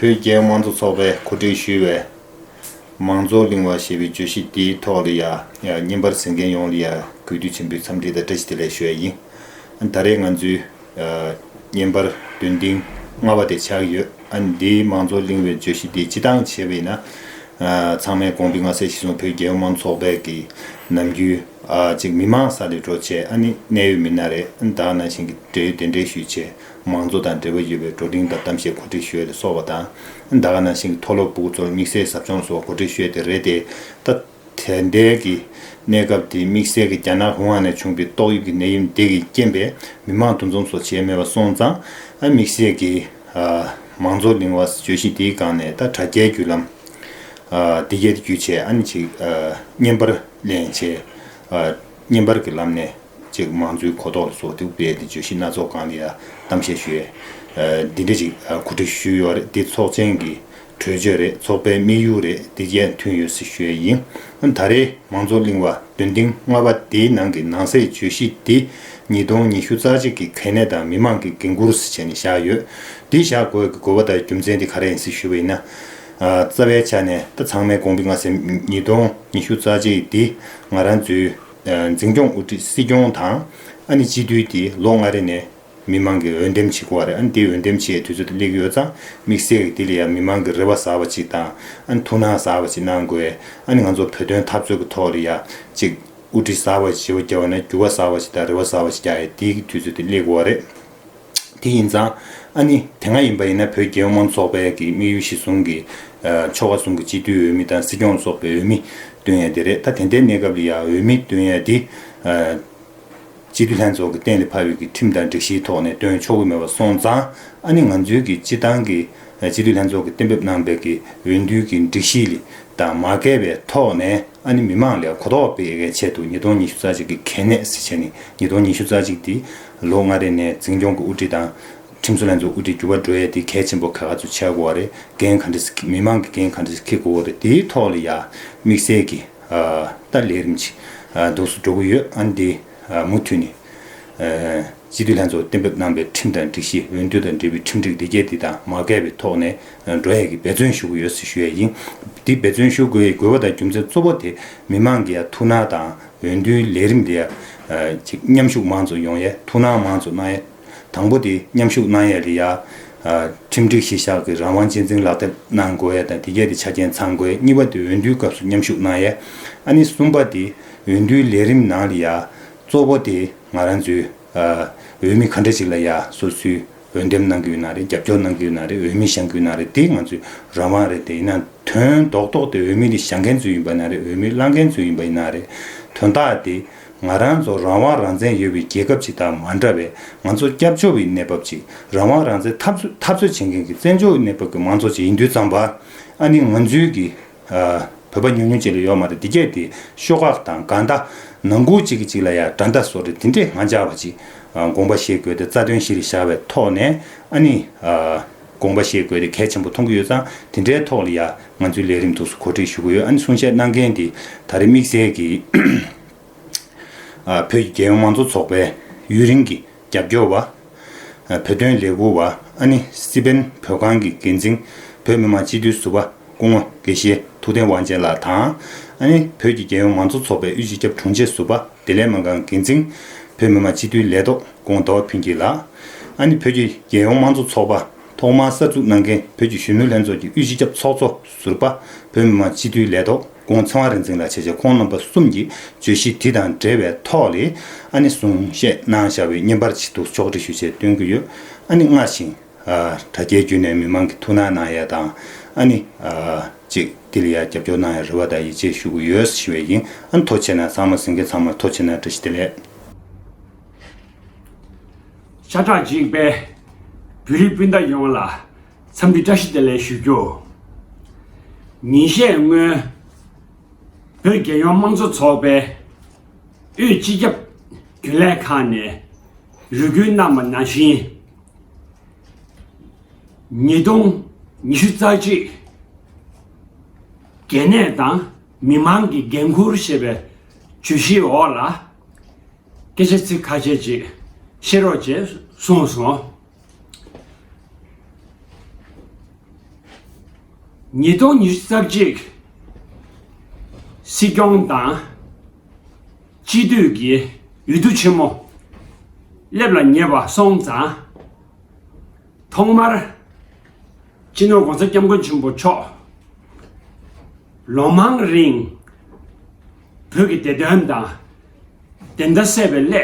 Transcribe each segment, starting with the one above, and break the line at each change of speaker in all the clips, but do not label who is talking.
བོད་རྒྱའི་དམངས་གཙོ་ཚོགས་པས་གོ་སྒྲིག་ཞུས་བའི། མང་གཙོ་གླིང་བ་ཞེས་པའི་བརྗོད་གཞི་དེའི་ཐོག་ལ་ཡང་བརྙན་པར་གཟིགས་མཁན་ཡོངས་ལ་ཡང་གུས་འདུད་ཆེན་པོས་འཚམས་འདྲི་དང་བཀྲ་ཤིས་བདེ་ལེགས་ཞུ་བ་ཡིན། ད་རེས་ང་ཚོའི་བརྙན་པར་བདུན་ཏིང་ལྔ་བ་དེ་ཆགས་ཡོད་ཨ། འདིའི་མང་ཚོགས་གླེང་བའི་བརྗོད་གཞི་དེ་སྤྱི་བཏང་བྱས་པས་ན། ཚང་མའི་དགོངས་པའི་ངྷ་སའི་ཞི་སོང་བོད་རྒྱལ་ཡོངས་མང་ཚོགས་པས་ཀྱི་ནམ་རྒྱུན་ཨ་ཅིག་མི་མང་ས་ལས་འགྲོ་ཆས་ཨ་ནི་གནད་ཡོད་མི་སྣ་རེ་དང་ནང་བཞིན་གྱི་འབྲེལ་ཡོད་དེ་འབྲེལ་ཞུས་ཆས་མང་ཚོགས་དང་འབྲེལ་བ་ཡོད་པའི་བྲོ་འབྲིང་དང་གཏམ་བཤད་གོ་སྒྲིག་ཞོས་ལས་སོགས་པ་དང་ད་ག་ནང་བཞིན་གྱི་མཐོ་སློབ་པུག་ཚོར་དམིགས་བསལ་ཟབ་སྦྱོང་སོགས་གོ་སྒྲིག་ཞོས་དེ་རེད་དེ་ད། དལ་འབྱོར་གྱི་གནས་སྐབས་དེའི་དམིགས་བསལ་གྱི་རྒྱ་ནག་ཧུང་ཨན་ནས་བྱུང་པའི་ཏོག་དབྱིབས་ཀྱི་ནད་ཡུམ་འདི་གིས་རྐྱེན་པས་མི་མང་འདུ་འཛོམས་སོགས་བྱས་མེད་པ་སོང་ཙང། དམིགས་བསལ་གྱི་མང་ཚོགས་གླིང་བ་བརྗོད་གཞི་འདིའི་སྒང་ནས་ད་དྲ་རྒྱའི་བརྒྱུད་ལམ། Digit རྒྱུ་ཆས་ཨ་ནི་ཅིག་བརྙན་པར་གླེང་བྱེད་བརྙན་པར་གྱི་ལམ་ནས་ཅིག་མང་གཙོའི་གོ་རྟོགས་ལ་སོགས་དེ་སྤེལ་ཏེ་བརྗོད་གཞི་སྣ་ཚོགས་སྒང་ལ་ཡང་གཏམ་བཤད་ཞུས། འདི་འདྲ་ཅིག་གོ་སྒྲིག་ཞུས་ཡོད་རེད་འདི་ཚོགས་ཆེན་གྱི་གྲོས་ཆོད་རེད་ཚོགས་པའི་དམིགས་ཡུལ་རེད་དེ་བཅས་མཐུན་ཡོད་སྲི་ཞོད་ཡིན། ད་རེས་མང་ཚོགས་གླིང་བ་དོན་ཐིང་ལྔ་པ་དེའི་ནང་གི་ནང་སའི་བརྗོད་གཞི་འདི་ཉིས་སྟོང་ཉི་ཤུ་རྩ་གཅིག་གི་གལ་གནད་དང་མི་མང་གི་འགན་འཁུར་སི་བྱས་ནས་བཞག་ཡོད། འདི་བཞག་དགོས་ཀྱི་དགོས་པ་དང་རྒྱུ་མཚན་དེ་ག་རེ་ཡིན་སྲི་ཞུ་བ་ཡིན་ན། རྩ་བའི་ཆ་ནས་ད་ཚང་མའི་དགོངས་པི་ང་སེམས་ཉིས་སྟོང་ཉི་ཤུ་རྩ་གཅིག་འདི་ང་རང་ཚོའི་འཛིན་སྐྱོང་དབུ་ཁྲིད་སྲིད་སྐྱོང་དང་ཨ་ནི་སྤྱི་འཐུས་ཀྱིས་ལོ་ལྔ་རེ་ནས་མི་མང་གིས་འོས་འདེམས་བྱེད་དགོས་བ་རེད་འདི་འོས་འདེམས་བྱེད་དུས་ཚོད་སླེག་ཡོད་ཙང་དམིགས་བསལ་གྱི་དེ་ལ་ཡང་མི་མང་གི་རེ་བ་ཟ་བ་ཅིག་དང་ཐུགས་སྣང་ཟ་བ་ཅིག་གནང་དགོས་ང་ཚོ་བོད་དོན་འཐབ་རྩོད་ཀྱི་ཐོག་ལ་ཡང་ཅིག་དབུ་ཁྲིད་ཟ་བ་ཞེ་བོ་རྒྱལ་བ་ན་འགྱུར་བ་ཟ་བ་ཞིག་དང་རེ་བ་ཟ་བ་ཞིག་ཀྱང་ཡིན་དེའི་དུས་ཚོད་དེ་སླེག་དགོས་བ་རེད་དེ་ཡིན་ཙང་ཨ་ནི་དེ་སྔ་ཡིན་པ་ཡིན་ན་བོད་རྒྱལ་ཡོངས་མང་ཚོགས་པའི་གི་དམིགས་ཡུལ་གཞི་བཟུང་གི་ཕྱོགས་བ་ཟུང་གི་སྤྱི་འཐུས་འོས་མི་དང་སྲིད་སྐྱོང་ལ་སོགས་པའི་འོས་མི་བཏོན་ཡས་དེ་རེད་ད་དེ་འདའི་གནས་སྐབས་ལ་ཡང་འོས་མི་བཏོན་ཡས་དེ། སྤྱི་བདེ་ལྷན་ཚོགས་ཀྱི་གཏན་ལ་ཕབ་ཡུལ་གྱི་ཁྲིམས་དང་སྒྲིག་གཞིའི་ཐོག་ནས་བཏོན་ཆོག་གི་མེད་པ་སོང་ཙང་ཨ་ནི་ང་ཚོའི་གི་སྤྱི་བཏང་གི་སྤྱི་བདེ་ལྷན་ཚོགས་ཀྱི་གཏན་འབེབས་གནང་སྦས་ཀྱི་འོས་འདུས་ཀྱི་སྒྲིག་གཞི་ལི་དང་མ་འགལ་བའི་ཐོག་ནས་ཨ་ནི་མི་མང་ལས་གོ་རྟོགས་སྤེལ་གལ་ཆེད་དུ་ཉིས་སྟོང་ཉི་ཤུ་རྩ་གཅིག་གི་གལ་གནད་སྲིད་བྱས་ནི་ཉིས་སྟོང་ཉི་ཤུ་རྩ་གཅིག་དེ་ལོ་ལྔ་རེ་ནས་འཛིན་སྐྱོང་གི་དབུ་ཁྲིད་དང། ཁྲིམས་བཟོ་ལྷན་ཚོགས་དབུ་ཁྲིད་འགྱུར་བ་འགྲོ་ཡས་དེ་གལ་ཆེན་པོ་ག་ག་ཚོད་བྱས་དགོ་བ་རེད་འགན་ག་འདྲི་མི་མང་གི་འགན་ག་འདྲི་ཁི་དགོ་བ་རེད་དེའི་ཐོག་ལ་ཡ་དམིགས་གསལ་གི། ལྟར་ལས་རིམ་གྱིས་འདུག་སུ་འགྲོ་གི་ཡོད་ཨང་འདི་མུ་མཐུད་ནས། སྤྱི་འཐུས་ལྷན་ཚོགས་གཏན་འབེབས་གནང་པའི་ཁྲིམས་དང་སྒྲིག་གཞི་འོས་བསྡུ་དང་འབྲེལ་བའི་ཁྲིམས་སྒྲིག་འདི་གལ་ཏེ་དང་མ་འགལ་བའི་ཐོག་ནས་འགྲོ་ཡས་ཀྱི་འབད་བརྩོན་ཞུ་གི་ཡོད་ཚུལ་ཞུ་ཡས་ཡིན། འདི་འབད་བརྩོན་ཞུ་དགོས་ཡས་དགོས་པ་དང་རྒྱུ་མཚན་གཙོ་བོ་དེ་མི་མང་གི་ཡང་ཐུགས་སྣང་དང་འོས་བསྡུའི་ལས་རིམ་འདི་ཡང་མཉམ་ཞུགས་མང་ཙོ་ཡོང་ཡས་ཐུགས་སྣང་མང་ཙོ་གནང་ཡས། དང་པོ་དེ་མཉམ་ཞུགས་གནང་ཡས་རེད་ཡ། ཁྲིམས་སྒྲིག་གཞི་བཞག་གི་རང་དབང་གཅེས་འཛིན་ལག་དེབ་གནང་དགོས་ཡས་དང་དེ་བརྒྱད་དེ་ཆ་རྐྱེན་ཚང་དགོས་ཡས་གཉིས་པ་དེ་འོས་བསྡུའི་སྐབས་སུ་མཉམ་ཞུགས་གནང་ཡས། ཨ་ནི་གསུམ་པ་དེ་འོས་བསྡུའི་ལས་རིམ་ནང་རེད་ཡ། གཙོ་བོ་དེ་ང་རང་ཚོའི་འོས་མི་ག་འདྲ་ཞིག་ལ་ཡ་སོ་སོའི་འོས་འདེམས་གནང་གི་ཡོད་ན་རེད་རྒྱབ་སྐྱོར་གནང་གི་ཡོད་ན་རེད་འོས་མི་བཞེངས་གི་ཡོད་ན་རེད་དེ་ང་ཚོའི་རང་དབང་རེད་དེ་ཡིན་ན་དོན་རྡོག་རྡོག་དེ་འོས་མི་དེ་བཞེངས་མཁན་ཚོའི་ཡིན་པ་ཡིན་ན་རེད་འོས་མི་བླངས་མཁན་ཚོའི་ཡིན་པ་ཡིན་ན་རེད་དོན་དག་དེ། ང་རང་ཚོ་རང་དབང་རང་བཙན་ཡོད་པའི་རྒྱལ་ཁབ་ཅིག་དང་མ་འདྲ་བའི་ང་ཚོ་སྐྱབས་བཅོལ་བའི་གནས་བབ་ཅིག་རང་དབང་རང་བཙན་འཐབ་འཐབ་རྩོད་བྱེད་མཁན་གྱི་བཙན་བྱོལ་བའི་གནས་བབ་ཀྱི་མང་ཚོགས་ཅིག་ཡིན་དུས་རྩམ་པ་ཨ་ནི་ང་ཚོའི་གི་བོད་པ་ཉུང་ཉུང་ཅིག་ལ་ཡོད་མ་རེད་འདི་སྐད་དེ་ཤོག་ཁག་དང་དགའ་མདའ་ནང་ཁུལ་ཅིག་གི་ཅིག་ལ་ཡང་དགྲ་མདའ་བཟོ་རེད་འདི་འདྲའི་ང་ཅག་པ་ཅིག་དགོངས་པ་བཞེས་དགོས་ཏེ་རྩ་དོན་བཞི་རེ་བཞག་པའི་ཐོག་ནས་ཨ་ནི། དགོངས་པ་བཞེས་དགོས་དེ་གལ་ཆེན་པོ་མཐོང་གི་ཡོད་ཙང་དེ་འདྲའི་ཐོག་ལ་ཡང་ང་ཚོའི་ལས་རིམ་ཐུགས་སུ་གོ་སྒྲིག་ཞུ་གི་ཡོད་ཨ་ནི་གསུང་བཤད་གནང་མཁན་དེ་ད་རེས་དམིགས་བསལ་གྱིས་བོད་ཀྱི་རྒྱལ་ཡོངས་མང་གཙོ་ཚོགས་པའི་ཡུན་རིང་གི་རྒྱབ་སྐྱོར་བ། བོད་དོན་ལས་འགུལ་བ་ཨ་ནི་སི་པན་བོད་ཁང་གི་འགན་འཛིན་བོད་མི་མང་སྤྱི་འཐུས་ཟུར་པ་སྐུ་ངོ་དགེ་བཤེས་ཐུགས་ལྡན་དབང་ཆེན་ལགས་དང། ཨ་ནི་བོད་ཀྱི་རྒྱལ་ཡོངས་མང་གཙོ་ཚོགས་པའི་དབུས་སྤྱི་ཁྱབ་དྲུང་ཆེ་ཟུར་པ་བདེ་ལེགས་མ་འགང་འགན་འཛིན། བོད་མི་མང་སྤྱི་འཐུས་ལས་ཐོག་ཀོང་ཏོག་ཕུན་སྐྱིད་ལགས། ཨ་ནི་བོད་ཀྱི་རྒྱལ་ཡོངས་དམངས་གཙོ་ཚོགས་པ་ཐོག་མར་གསར་འཛུགས་གནང་མཁན་བོད་ཀྱི་གཞོན་ནུ་ལྷན་ཚོགས་ཀྱི་དབུས་སྤྱི་ཁྱབ་ཚོགས་གཙོ་ཟུར་པ་བོད་མི་མང་སྤྱི་འཐུས་ལས་ཐོག་ཀོང་ཚེ་དབང་རིག་འཛིན་ལགས་བྱས་རྗེས་ཁོང་རྣམ་པ་གསུམ་གྱིས་བརྗོད་གཞི་དེ་དང་འབྲེལ་བའི་ཐོག་ལས་ཨ་ནི་གསུང་བཤད་གནང་བཞག་པའི་བརྙན་པར་ཆེད་དུ་ཕྱོགས་སྒྲིག་ཞུ་ཆེད་སྟོན་གྱི་ཡོད་ཨ་ནི་སྔར་བཞིན། དྲ་རྒྱའི་བརྒྱུད་ནས་མི་མང་གི་ཐུགས་སྣང་གནང་ཡས་དང་ཨ་ནི། ཅིག་འདི་ལ་ཡར་རྒྱབ་སྐྱོར་གནང་ཡས་རེ་བ་དང་ཡིད་ཆེས་ཞུ་གི་ཡོད་ཟེར་བཞིན་བས་ཡིན་ཨ་མཐོ་ཆེ་ན་ཚང་མ་ཟིང་གེ་ཚང་མ་མཐོ་ཆེ་ན་བཀྲ་ཤིས་བདེ་ལེགས།
ཤ་ཁྲག་གཅིག་པའི་བོད་རིགས་སྤུན་ཟླ་ཡོངས་ལ་འཚམས་འདྲི་བཀྲ་ཤིས་བདེ་ལེགས་ཞུ་རྒྱུ། ཉིན་ཤས་སྔོན་བོད་རྒྱལ་ཡོངས་དམངས་གཙོ་ཚོགས་པའི་དབུས་སྤྱི་ཁྱབ་རྒྱུན་ལས་ཁང་ནས་རུས་རྒྱུད་རྣམས་ནང་བཞིན། ཉིས་སྟོང་ཉི་ཤུ་རྩ་གཅིག་རྒྱལ་ནད་དང་མི་དམངས་ཀྱི་འགན་ཁུར་ཞེས་པའི་བརྗོད་གཞིའི་འོག་ལ་སྐད་ཆ་ཚིག་ཁ་ཤས་ཅིག་བཤད་རོགས་ཅེས་གསུངས་སོང། ཉིས་སྟོང་ཉི་ཤུ་རྩ་གཅིག་སྲིད་སྐྱོང་དང། སྤྱི་བསྟོད་ཀྱི་ཡུལ་དུ་ཆེན་མོ། སླེབ་ལ་ཉེ་བ་སོང་ཙང། ཐོག་མར། སྤྱི་ནོར ྋགོང་ས ྋསྐྱབས་མགོན་ཆེན་པོ་མཆོག། ལོ་མང་རིང། བོད་ཀྱི་བདེ་དོན་དང། བདེན་མཐའ་གསལ་བའི་སླད།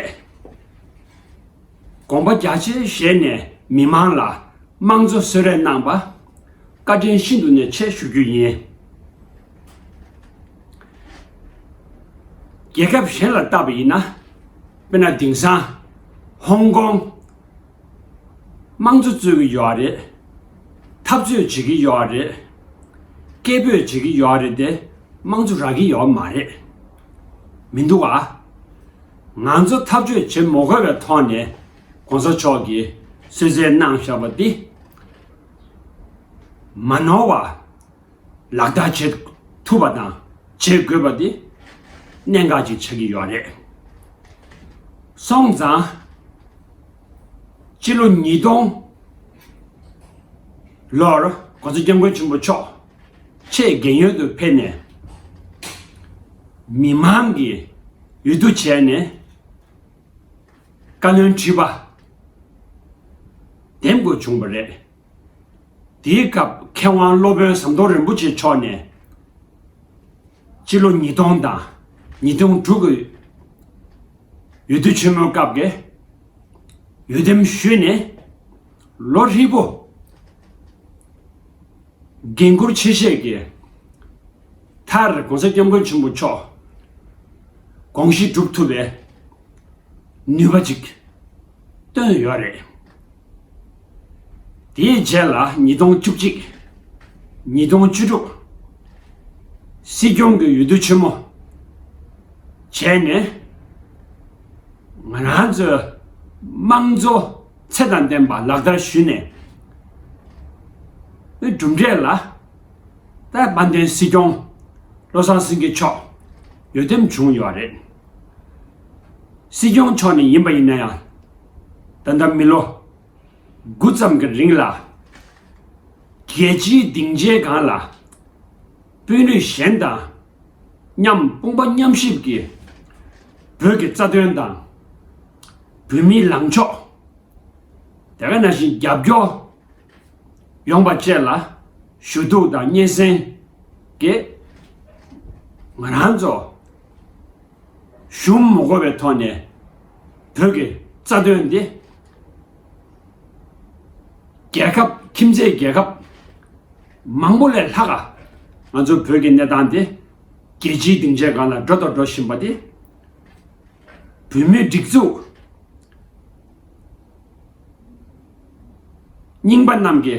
དགོངས་པ་རྒྱ་ཆེར་བཞེས་ནས་མི་མང་ལ་དམངས་གཙོ་གསོལ་རས་གནང་པ། བཀའ་དྲིན་ཤིན་ཏུ་ནས་ཆེ་ཞུ་རྒྱུ་ཡིན། རྒྱལ་ཁབ་གཞན་ལ་བལྟ་བ་ཡིན་ན། དཔེར་ན་དེང་སང་ཧོང་ཀོང། དམངས་གཙོ་རྩོད་ཀྱི་ཡོད་རེད། འཐབ་རྩོད་བྱེད་ཀྱི་ཡོད་རེད། སྐད་འབོད་བྱེད་ཀྱི་ཡོད་རེད་དེ་དམངས་གཙོ་རག་གི་ཡོད་མ་རེད། མི་འདུག་ཨ། ང་ཚོ་འཐབ་རྩོད་བྱེད་མོ་དགོས་པའི་ཐོག་ནས་གོང་ས་མཆོག་གིས་གསོལ་བསྩལ་གནང་བཞག་པ་འདི། མ་ནོར་བ། ལག་བསྟར་བྱེད་ཐུབ་པ་དང་བྱེད་དགོས་པ་དེ་གནད་འགག་ཅིག་ཆགས་ཀྱི་ཡོད་རེད། སོང་ཙང་ཕྱི་ལོ་ཉིས་སྟོང་ལོར་གོང་ས་སྐྱབས་མགོན་ཆེན་པོ་མཆོག་ཆེས་རྒན་ཡོལ་དུ་ཕེབས་ནས་མི་མང་གི་འོས་བསྡུ་བྱས་ནས་བཀའ་བློན་ཁྲི་པ་འདེམས་དགོས་བྱུང་བ་རེད། དེའི་སྐབས་མཁས་དབང་སློབ་དཔོན་ཟམ་གདོང་རིན་པོ་ཆེ་མཆོག་ནས། སྤྱི་ལོ་ཉིས་སྟོང་དང་ཉིས་སྟོང་དྲུག་གི་ཡུལ་དུས་ཆེན་མོའི་སྐབས་ཀྱི་ཡུལ་འདེམས་ཞུས་ནས་ལོ་ཧྲིལ་པོ་འགན་ཁུར་ཆེ་བཞེས་ཀྱི་མཐར ྋགོང་ས ྋསྐྱབས་མགོན་ཆེན་པོ་མཆོག་དགོངས་གཞི་སྒྲུབ་ཐུབ་པའི་ནུས་པ་ཅིག་བཏོན་ཡོད་རེད། དེའི་རྗེས་ལ་ཉིས་སྟོང་བཅུ་གཅིག། ཉིས་སྟོང་བཅུ་དྲུག། སྲིད་སྐྱོང་གི་འོས་བསྡུ་ཆེན་མོ་བྱས་ནས། ང་རང་ཚོའི་དམངས་གཙོ་ཚད་དང་ལྡན་པ་ལག་བསྟར་ཞུས་ནས། པའི་གྲུབ་འབྲས་ལ་དཔལ་དཔལ་ལྡན་སྲིད་སྐྱོང་བློ་བཟང་སེང་གེ་མཆོག་འོས་འདེམས་བྱུང་ཡོད་རེད། སྲིད་སྐྱོང་མཆོག་ནས་ཡིན་པ་ཡིན་ན་ཡང། ད་ལྟ་མི་ལོ་དགུ་ཙམ་གྱི་རིང་ལ་རྒྱལ་སྤྱིའི་སྡིངས་ཆའི་སྒང་ལ་དཔོན་རིགས་གཞན་དང་མཉམ་དཔུང་པ་མཉམ་གཤིབ་ཀྱིས་བོད་ཀྱི་རྩ་དོན་དང་བོད་མིའི་ལངས་ཕྱོགས་དེ་ག་ནང་བཞིན་རྒྱབ་སྐྱོར་ཡོང་པ་བཅས་ལ་ཞུ་གཏུག་དང་སྙན་སེང་གིས་ང་རང་ཚོ་གཞུང་མི་གོ་བའི་ཐོག་ནས་བོད་ཀྱི་རྩ་དོན་འདི། རྒྱལ་ཁབ་ཁྱིམ་མཚེས་རྒྱལ་ཁབ་མང་པོ་ལས་ལྷག་ག་ང་ཚོ་བོད་ཀྱི་གནས་སྟངས་འདི་རྒྱལ་སྤྱིའི་སྡིངས་ཆའི་སྒང་ལ་འགྲོ་དང་འགྲོ་བཞིན་པ་འདི། བོད་མིའི་སྒྲིག་འཛུགས་རྙིང་པ་རྣམས་ཀྱི།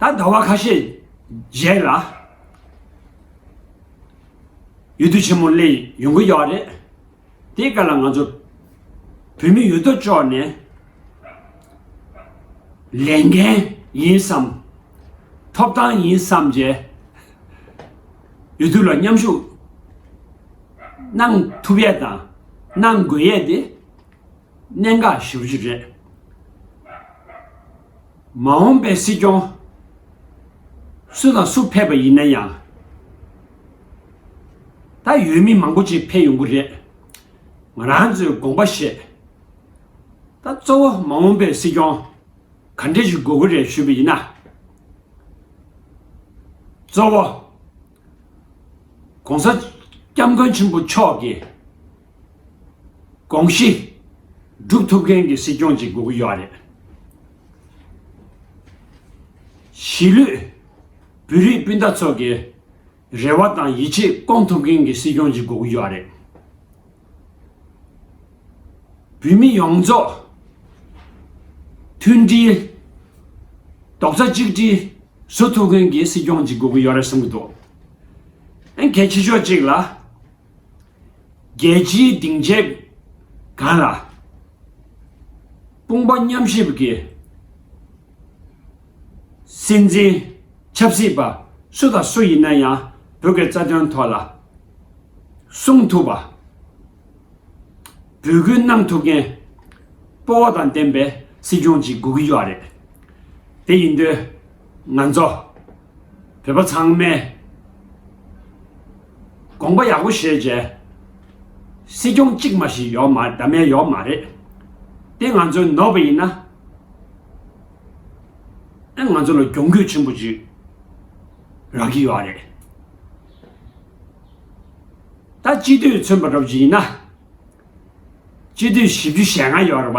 ད་ཟླ་བ་ཁ་ཤས་རྗེས་ལ་ཡུལ་དུས་ཆེན་མོ་གླེང་ཡོང་གི་ཡོད་རེད་དེ་ག་ལ་ང་ཚོ་བོད་མི་ཡོད་དོ་ཅོག་ནས་ལས་འགན་ཡིན་བསམ་ཐོབ་ཐང་ཡིན་བསམ་རྗེས་ཡུལ་དུས་ལ་མཉམ་ཞུགས་གནང་ཐུབ་ཡས་དང་གནང་དགོས་ཡས་དེ་གནད་འགག་བཞི་བཅུ་རེད། མ་འོངས་པའི་སྲིད་སྐྱོང་སུ་དང་སུ་ཕེབས་པ་ཡིན་ན་ཡང། ད་ཡོད་མི་མང་པོ་ཅིག་ཕེབས་ཡོང་གི་རེད། ང་རང་ཚོས་དགོངས་པ་བཞེས། ད་གཙོ་བོ་མ་འོངས་པའི་སྲིད་སྐྱོང་ག་འདྲས་ཞིག་དགོས་ཀྱི་རེད་ཞུས་པ་ཡིན་ན། གཙོ་བོ ྋགོང་ས ྋསྐྱབས་མགོན་ཆེན་པོ་མཆོག་གིས་གོང་བཞི། སྒྲུབ་ཐུབ་མཁན་གྱི་སྲིད་སྐྱོང་ཅིག་དགོས་ཀྱི་ཡོད་རེད། གཞིས་ལུས་བོད་རིགས་སྤུན་ཟླ་ཚོ་གི་རེ་བ་དང་ཡིད་ཆེས་སྐོང་ཐུབ་མཁན་གྱི་སྲིད་སྐྱོང་ཅིག་དགོས་ཀྱི་ཡོད་རེད། བོད་མི་ཡོངས་རྫོགས་མཐུན་སྒྲིལ། རྡོག་རྩ་གཅིག་སྒྲིལ་བཟོ་ཐུབ་མཁན་གྱི་སྲིད་སྐྱོང་ཅིག་དགོས་ཀྱི་ཡོད་རེད་བསམ་གྱི་འདུག། གལ་ཆེ་ཤོས་གཅིག་ལ། རྒྱལ་སྤྱིའི་སྡིངས་ཆའི་སྒང་ལ། དཔུང་པ་མཉམ་གཤིབ་ཀྱི་སྲིད་འཛིན་ཆབ་སྲིད་པ་སུ་དང་སུ་ཡིན་ན་ཡང་བོད་ཀྱི་རྩ་དོན་ཐོག་ལ་གསུང་ཐུབ་པ། འབོད་སྐུལ་གནང་ཐུབ་མཁན་སྤོ་བོ་དང་ལྡན་པའི་སྲིད་སྐྱོང་ཅིག་དགོས་ཀྱི་ཡོད་རེད། དེ་ཡིན་དུས་ང་ཚོ། བོད་པ་ཚང་མས་དགོངས་པ་ཡག་པོ་བཞེས་རྗེས། སྲིད་སྐྱོང་གཅིག་མ་ཞིག་ཡོད་མ་རེད་མེད་ཡོད་མ་རེད། དེ་ང་ཚོའི་ནོར་བུ་ཡིན། ང་ཚོ་ལ་གྱོང་གུད་ཆེན་པོ་ཅིག་རག་གི་ཡོད་རེད། ད་སྤྱི་འཐུས་ཚུན་པ་སྒྲོག་རྒྱུ་ཡིན་ན། སྤྱི་འཐུས་བཞི་བཅུ་ཞེ་ལྔ་ཡོད་རེད་པ།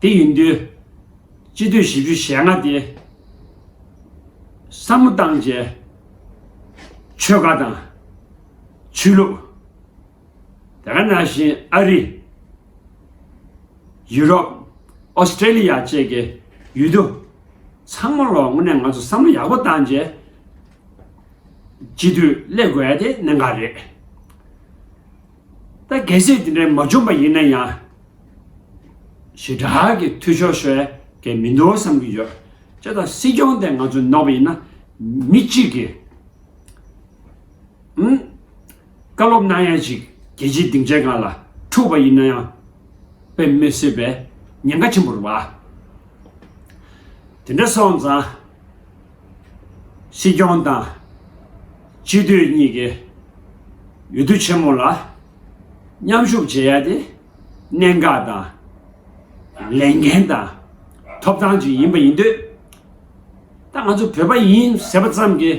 དེ་ཡིན་དུས། སྤྱི་འཐུས་བཞི་བཅུ་ཞེ་ལྔ་དེ། བསམ་བློ་བཏང་རྗེས། ཆོལ་ཁ་དང། ཆོས་ལུགས། དེ་ག་ནང་བཞིན་ཨ་རི། ཡུ་རོབ། ཨོ་སི་ཀྲེ་ལི་ཡ་བཅས་ཀྱི་ཡུལ་དུ། ཚང་མ་ལོ་ངོ་ནས་ང་ཚོ་བསམ་བློ་ཡག་པོ་བཏང་རྗེས། སྤྱི་འཐུས་སླེབས་དགོས་ཡ་དེ་གནད་འགག་རེད། ད་གལ་སྲིད་དེ་འདྲའི་མ་བྱུང་པ་ཡིན་ན་ཡང། ཞི་དྲག་གི་འཐུས་ཤོར་ཤོས་དེ་མི་འདུག་བསམ་གྱི་ཡོད། ཅེས་དང་སྲིད་སྐྱོང་དེ་ང་ཚོས་ནོར་བ་ཡིན་ན། མི་གཅིག་གིས། ཨང། བཀའ་སློབ་གནང་ཡ་ཅིག་རྒྱལ་སྤྱིའི་སྡིངས་ཆའི་སྒང་ལ་འཁྲུགས་པ་ཡིན་ན་ཡང། དཔེ་མི་སྲིད་པའི་ཉེན་ཁ་ཆེན་པོར་བ། དེ་འདྲ་སོང་ཙང། སྲིད་སྐྱོང་དང་སྤྱི་འཐུས་གཉིས་ཀས་འོས་བསྡུ་ཆེན་མོ་ལ་མཉམ་ཞུགས་བྱེད་ཡ་དེ་གནད་འགག་དང་ལས་འགན་དང་ཐོབ་ཐང་ཅིག་ཡིན་པ་ཡིན་དུས་ད་ང་ཚོ་བོད་པ་ཡིན་ཟེར་བ་ཙམ་གྱིས་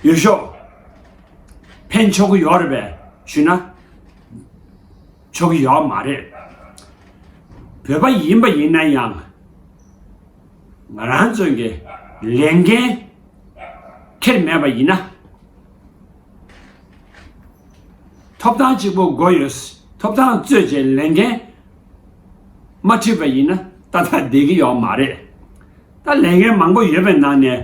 འོས་ཤོག་འཕེན་ཆོག་གི་ཡོད་རེད་པས་ཞུས་ན། ཆོག་གི་ཡོད་མ་རེད། བོད་པ་ཡིན་པ་ཡིན་ན་ཡང་ང་རང་ཚོས་ཀྱི་ལས་འགན་ཁྱེར་མེད་པ་ཡིན་ན། ཐོབ་ཐང་གཅིག་པོ་དགོས་ཡོད་ཐོབ་ཐང་རྩོད་བྱེད་ལས་འགན་མ་ཁྲིད་པ་ཡིན་ན་ད་ལྟ་བསྡད་ཀྱི་ཡོད་མ་རེད། ད་ལས་འགན་མང་པོ་ཡོད་པའི་ནང་ནས།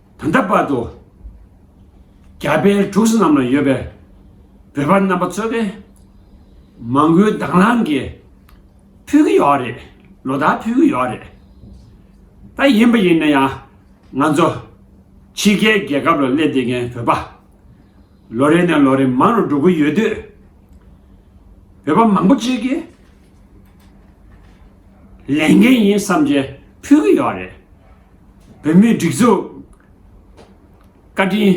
ད་ལྟ་བར་དུ་རྒྱ་བལ་འབྲུག་སི་རྣམས་ལ་ཡོད་པའི་བོད་པ་རྣམ་པ་ཚོས་ཏེ་མང་པོའི་དྭང་བླངས་ཀྱིས་ཕུལ་གྱི་ཡོད་རེད་ལོ་ཟླ་ཕུལ་གྱི་ཡོད་རེད་ད་ཡིན་པ་ཡིན་ན་ཡང་ང་ཚོ་ཕྱི་རྒྱལ་རྒྱལ་ཁབ་ལ་སླེབས་བསྡད་མཁན་བོད་པ་ལོ་རེ་ནས་ལོ་རེ་མང་རུ་འགྲོ་གི་ཡོད་དུས་བོད་པ་མང་པོ་གཅིག་གིས་ལས་འགན་ཡིན་བསམ་གྱིས་ཕུལ་གྱི་ཡོད་རེད། བོད་མིའི་སྒྲིག་འཛུགས་བཀའ་དྲིན་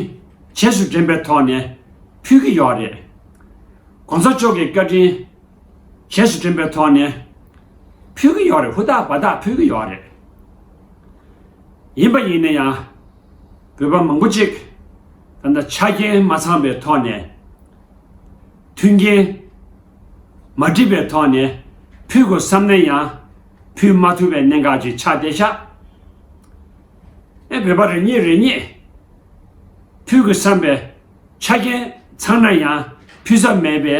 རྗེས་སུ་དྲན་པའི་ཐོག་ནས་ཕུལ་གྱི་ཡོད་རེད། གོང་ས་མཆོག་གི་བཀའ་དྲིན་རྗེས་སུ་དྲན་པའི་ཐོག་ནས་ཕུལ་གྱི་ཡོད་རེད་ཧུ་ཐག་བ་ཐག་ཕུལ་གྱི་ཡོད་རེད། ཡིན་པ་ཡིན་ན་ཡང་བོད་པ་མང་པོ་ཅིག་ད་ལྟ་ཆ་རྐྱེན་མ་ཚང་པའི་ཐོག་ནས་མཐུན་རྐྱེན་མ་སྒྲིག་པའི་ཐོག་ནས་ཕུལ་དགོས་བསམ་ན་ཡང་ཕུད་མ་ཐུབ་པའི་གནད་འགག་ཅིག་ཆགས་ཏེ་ཤ་ཨེ་བོད་པ་རེ་རྙེད་རེ་རྙེད་ཕུད་དགོས་བསམ་པའི་ཆ་རྐྱེན་ཚང་ན་ཡང་ཕུད་ས་མེད་པའི་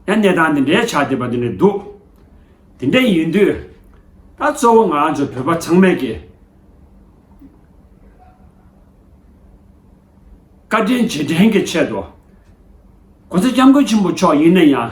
ཡང་གནས་སྟངས་འདི་འདྲའི་ཆགས་བསྡད་པ་དེ་འདྲ་འདུག་དེ་འདྲ་ཡིན་དུས་ད་གཙོ་བོ་ང་ཚོ་བོད་པ་ཚང་མས་ཀྱི་བཀའ་དྲིན་རྗེས་དྲན་གྱི་ཆེད་དུ་གོང་ས་སྐྱབས་མགོན་ཆེན་པོ་མཆོག་ཡིན་ན་ཡང།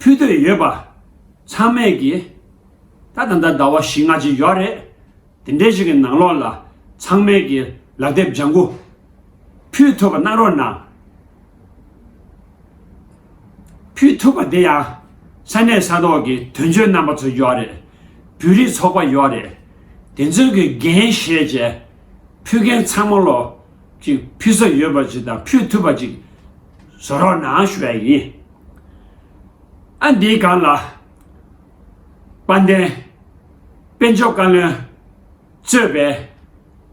ཕུལ་འདོད་ཡོད་པ་ཚང་མས་ཀྱི། ད་ད་ད་ཟླ་བ་བཞི་ལྔ་ཅིག་ཡོད་རེད། དེ་འདྲའི་ཞིག་གི་ནང་ལོགས་ལ་ཚང་མས་ཀྱི་ལག་དེབ་ལྗང་གུ་ཕུལ་ཐུབ་པ་གནང་རོགས་གནང། ཕུལ་ཐུབ་པ་དེ་ཡང་ས་གནས་ས་ཐོག་གི་དོན་གཅོད་རྣམ་པ་ཚོ་ཡོད་རེད། བོད་རིགས་ཚོགས་པ་ཡོད་རེད། དེ་ཚོའི་གི་འགན་བཞེས་རྗེས་ཕུལ་མཁན་ཚང་མ་ལོགས་ཅིག་ཕུལ་ས་ཡོད་པ་ཅིག་དང་ཕུལ་ཐུབ་པ་ཅིག་བཟོ་རོགས་གནང་ཞུ་བ་ཡིན། ཨ་འདིའི་སྒང་ལ། དཔལ་ལྡན། དཔལ་འབྱོར་བཀའ་བློན། གཙོས་པའི།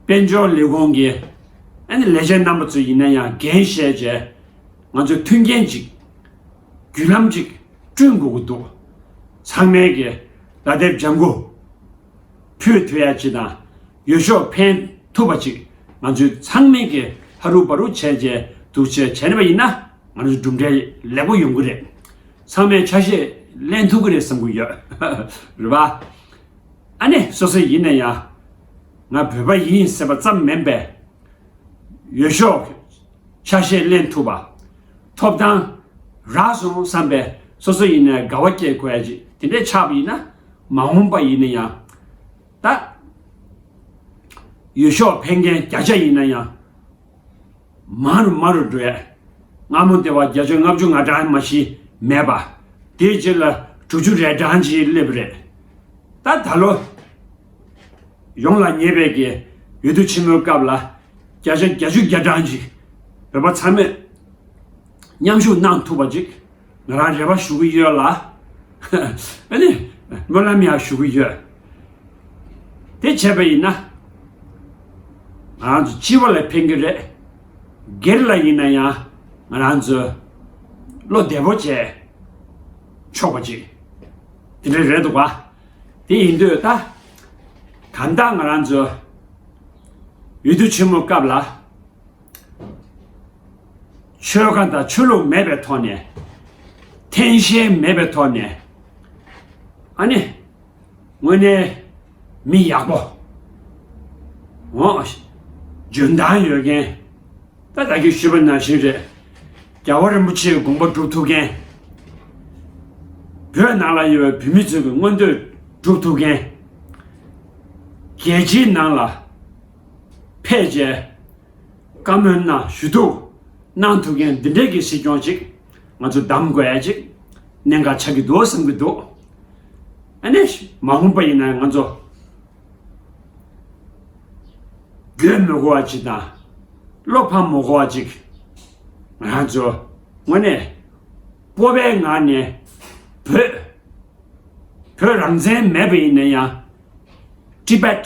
དཔལ་འབྱོར་ལས་ཁུངས་ཀྱི། ཨ་ནི་ལས་བྱེད་རྣམ་པ་ཚོ་ཡིན་ན་ཡང་འགན་བཞེས་རྗེས། ང་ཚོས་མཐུན་རྐྱེན་ཅིག། བརྒྱུད་ལམ་ཅིག་བསྐྲུན་དགོས་ཀྱི་འདུག་ཚང་མལ་གྱི། སྒྲ་དེབ་ལྗང་གུ། ཕུད་དུ་ཡ་ཅི་དང། ཡོ་ཤོག་འཕེན་ཐུབ་པ་ཅིག་ང་ཚོས་ཚང་མལ་གྱི་ཧ་རུ་བ་རུ་བྱས་རྗེས་འདུག་ཅེས་བྱས་ནས་པ་ཡིན་ན། ང་ཚོ་གྲུབ་འབྲས་ལེགས་པོ་ཡོང་གི་རེད། ཚང་མས་ཆ་ཤས་ལེན་ཐུབ་ཀྱི་རེད་བསམ་གྱི་ཡོད། རེད་པ། ཨ་ནེ་སོ་སོ་ཡིན་ན་ཡང། ང་བོད་པ་ཡིན་ཟེར་པ་ཙམ་མིན་པས། ཡོད་ཤོག་ཆ་ཤས་ལེན་ཐུབ་པ། ཐོབ་ཐང་རག་སོང་བསམ་པས་སོ་སོ་ཡིན་ན་དགའ་བ་སྐྱེས་དགོས་ཡ་ཅིག་དེ་འདྲས་ཆགས་པ་ཡིན་ན། མ་འོངས་པ་ཡིན་ན་ཡང། ད། ཡོད་ཤོག་ཕན་མཁན་བརྒྱ་ཆ་ཡིན་ན་ཡང། མ་རུ་མ་རུ་འགྲོ་ཡས། སྔ་མོ་བདེ་བ་བརྒྱ་བྱིན་ལྔ་བཅུ་ང་གྲངས་མ་བཞི་མེད་པ། དེའི་རྗེས་ལ་དྲུག་ཅུ་རེ་གྲངས་ཀྱིས་སླེབས་རེ། ད་ད་ལོ། ཡོངས་ལ་ཉེས་པའི་གེ། ཡུལ་དུས་ཆེན་མོའི་སྐབས་ལ། བརྒྱ་ཆ་བརྒྱ་བཅུ་བརྒྱ་གྲངས་ཀྱིས། བོད་པ་ཚང་མས། མཉམ་ཞུགས་གནང་ཐུབ་པ་ཅིག། ང་རང་རེ་བ་ཞུ་གི་ཡོད་ལ། ཨ་ནི། སྨོན་ལམ་ཡང་ཞུ་གི་ཡོད། དེ་བྱས་པ་ཡིན་ན། ང་རང་ཚོ་སྤྱི་བོ་ལ་ཕན་གྱི་རེད། སྒེར་ལ་ཡིན་ན་ཡང་ང་རང་ཚོས་བློ་བདེ་བོ་བྱས་ཆོག་པ་ཅིག་དེ་འདྲ་རེད་འདུག་བ། དེ་ཡིན་དུས་ད་གང་ལྟར་ང་རང་ཚོས་འོས་བསྡུ་ཆེན་མོ་སྐབས་ལ་ཆོལ་ཁ་དང་ཆོས་ལུགས་མེད་པའི་ཐོག་ནས། འཐེན་བཤལ་མེད་པའི་ཐོག་ནས། ཨ་ནི། དངོས་གནས་མི་ཡག་པོ། འོང། འཇོན་ཐང་ཡོད་མཁན། ད་ལྟ་གི་ཤུལ་པ་ནང་བཞིན་རེད། རྒྱལ་བ་རིན་པོ་ཆེའི་དགོངས་པ་སྒྲུབ་ཐུབ་མཁན། བོད་ནང་ལ་ཡོད་པའི་བོད་མི་ཚོའི་མངོན་འདོད་སྒྲུབ་ཐུབ་མཁན། རྒྱལ་སྤྱིའི་ནང་ལ། ཕལ་ཆེར། བཀའ་མོལ་ན་ཞུ་གཏུག་གནང་ཐུབ་མཁན་འདི་འདྲས་ཀྱི་སྲིད་སྐྱོང་ཅིག་ང་ཚོ་གདམ་དགོས་ཡ་ཅིག་གནད་འགག་ཆགས་ཀྱི་འདུག་བསམ་གྱི་འདུག་ཨ་ནེ། མ་འོངས་པ་ཡིན་ན་ང་ཚོ་རྒྱུས་མི་གོ་བ་ཅིག་དང་བློ་ཕམ་མོ་གོ་བ་ཅིག་ང་ཚོ་དངོས་གནས་སྤོབས་པའི་ངང་ནས་བོད་བོད་རང་བཙན་མེད་པ་ཡིན་ན་ཡང Tibet།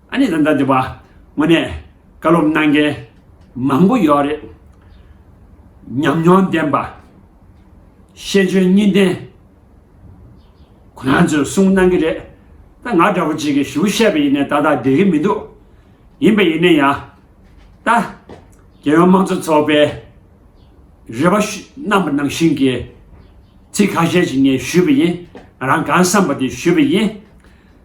ཨ་ནི་ལ་འདྲ་དེ་བ་དངོས་གནས་བཀའ་སློབ་གནང་མཁན་མང་པོ་ཡོད་རེད། ཉམས་མྱོང་ལྡན་པ། ཤེས་འཇོན་གཉིས་ལྡན། ཁོ་རང་ཚོས་གསུང་གནང་གི་རེད། ད་ང་འདྲ་བོ་ཅིག་གིས་ཞུ་བཤད་པ་ཡིན་ནས་ཏག་ཏག་བསྡད་ཀྱི་མི་འདུག་ཡིན་པ་ཡིན་ན་ཡང། ད་རྒྱལ་ཡོངས་དམངས་གཙོ་ཚོགས་པའི་རེ་བ་རྣམ་པ་ནང་བཞིན་གྱི་ཚིག་ཁ་ཤས་ཞིག་ངས་ཞུས་པ་ཡིན། ང་རང་གང་བསམ་པ་དེ་ཞུས་པ་ཡིན།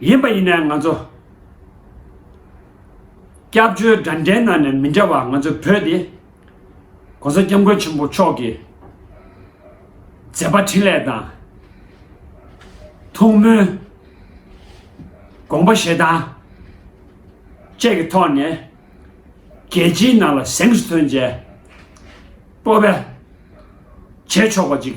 ཡིན་པ་ཡིན་ན་ང་ཚོ་སྐྱབས་བཅོལ་དགྲ་འདྲེ་ནང་ནས་མི་འདྲ་བ་ང་ཚོའི་བོད་དེ ྋགོང་ས ྋསྐྱབས་མགོན་ཆེན་པོ་མཆོག་གི་མཛད་པ་འཕྲིན་ལས་དང་ཐུགས་སྨོན་དགོངས་པ་བཞེས་སྟངས་བཅས་ཀྱི་ཐོག་ནས་རྒྱལ་སྤྱིའི་ནང་ལ་གཟེངས་སུ་ཐོན་མཛད་སྤོབས་པས་བྱེད་ཆོག་པ་ཅིག་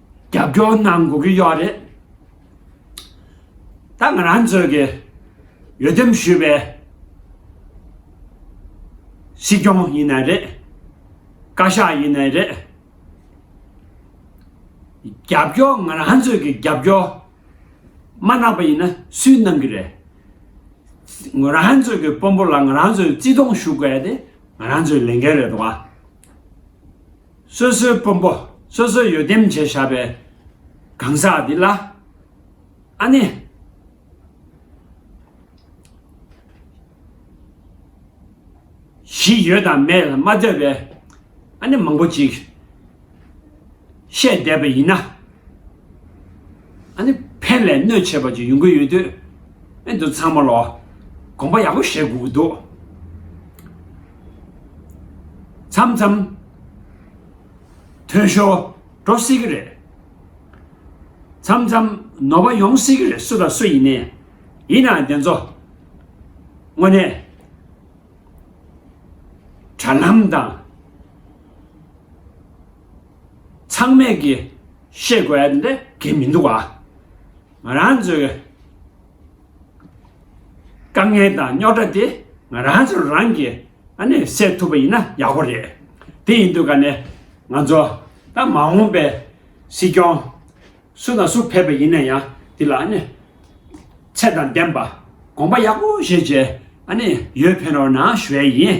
རྒྱབ་སྐྱོར་གནང་དགོས་ཀྱི་ཡོད་རེད། ད་ང་རང་ཚོས་ཀྱི་ཡོད་དམ་ཞུས་པའི་སྲིད་སྐྱོང་ཡིན་ནའི་རེད། བཀའ་ཤག་ཡིན་ནའི་རེད། རྒྱབ་སྐྱོར་ང་རང་ཚོས་ཀྱི་རྒྱབ་སྐྱོར་མ་གནང་པ་ཡིན་ན་སུས་གནང་གི་རེད། ང་རང་ཚོས་ཀྱི་དཔོན་པོ་ལ་ང་རང་ཚོས་བརྩི་མཐོང་ཞུ་དགོས་དེ་ང་རང་ཚོའི་ལས་འགན་རེད་དོ། སོ་སོའི་དཔོན་པོ་སོ་སོའི་ཡོ་དེམ་བྱས་བཞག་པའི་གང་ཟག་འདི་ལ་ཨ་ནི། གཞི་ཡོད་དང་མེད་ལ་མ་ལྟོས་པའི་ཨ་ནི་མང་པོ་ཅིག་བཤད་བསྡད་པ་ཡིན་ན། ཨ་ནི་ཕན་ལས་གནོད་ཆེ་བ་ཅིག་ཡོང་གི་ཡོད་དུས་ཨེ་འདུག་ཚང་མ་ལ་དགོངས་པ་ཡག་པོ་བཞེས་དགོས་ཀྱི་འདུག་མཚམས་མཚམས་དོན་ཞོ་འགྲོ་སྲིད་ཀྱི་རེད་མཚམས་མཚམས་ནོར་བ་ཡོང་སྲིད་ཀྱི་རེད་སུ་དང་སུ་ཡིན་ནའི་ཡིན་ནའང་དེ་ཚོ་དངོས་གནས་དྲ་ལམ་དང། ཚང་མས་ཀྱི་ཤེས་དགོས་འདི་འདྲ་གི་མི་འདུག་ཨ། ང་རང་ཚོའི་དཀའ་ངལ་དང་རྙོག་དྲ་དེ་ང་རང་ཚོ་རང་གི་ཨ་ནས་སེལ་ཐུབ་པ་ཡིན་ན་ཡག་པོ་རེད། དེ་ཡིན་དུས་ཀ་ནས་ང་ཚོ་ད་མ་འོངས་པའི་སྲིད་སྐྱོང་སུ་དང་སུ་ཕེབས་པ་ཡིན་ན་ཡང་དེ་ལ་ཨ་ནས་ཚད་དང་ལྡན་པ་དགོངས་པ་ཡག་པོ་བཞེས་བྱས་ཨ་ནས་ཡོད་ཕན་རོགས་གནང་ཞུ་བས་ཡིན།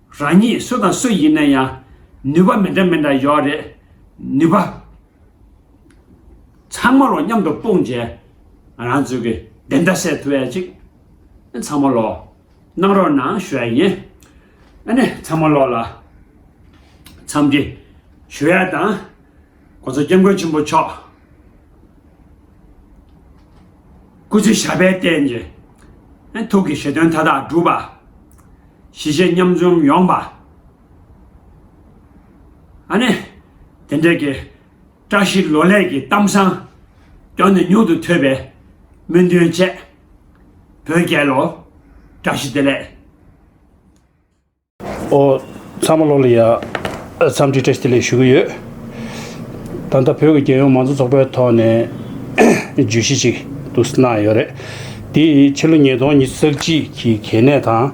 རང་ཉིད་སུ་དང་སུ་ཡིན་ན་ཡང་ནུས་པ་མི་འདྲ་མི་འདྲ་ཡོད་རེད། ནུས་པ་ཚང་མ་ལོ་མཉམ་དུ་སྤུངས་རྗེས་རང་ཚུགས་ཀྱི་བདེན་མཐའ་སེལ་ཐུབ་ཡ་ཅིག་ཚང་མ་ལོ་གནང་རོགས་གནང་ཞུ་ཡ་ཡིན། ཨ་ནི་ཚང་མ་ལོ་ལ་འཚམས་འདྲི་ཞུ་ཡ་དང། ཁོ་ཚོ་སྐྱབས་མགོན་ཆེན་པོ་མཆོག་སྐུ་ཚེ་ཞབས་པད་བརྟན་ཅིང་ཐུགས་ཀྱི་བཞེད་དོན་མཐའ་དག་འགྲུབ་པ། ཞི་བྱེད་མཉམ་འཛོམས་ཡོང་པ། ཨ་ནེ། དེ་འབྲེལ་གྱི་བཀྲ་ཤིས་ལོ་ལེགས་ཀྱི་གཏམ་བཟང་དོན་དུ་མྱུར་དུ་ཐོས་པའི་སྨོན་འདུན་བཅས། བོད་རྒྱལ་ལོ་བཀྲ་ཤིས་བདེ་ལེགས། ཨོ།
ཚང་མ་བློ་ལ་ཡ། འཚམས་འདྲི་བཀྲ་ཤིས་བདེ་ལེགས་ཞུ་གི་ཡོད། ད་ལྟ་བོད་ཀྱི་རྒྱལ་ཡོངས་མང་གཙོ་ཚོགས་པའི་ཐོག་ནས་བརྗོད་གཞི་ཅིག་ཏུ་གནང་ཡོད་རེད། དེ་ཡིས་ཕྱི་ལོ་ཉིས་སྟོང་ཉིས་བརྩེགས་གཅིག་གི་གལ་གནད་དང།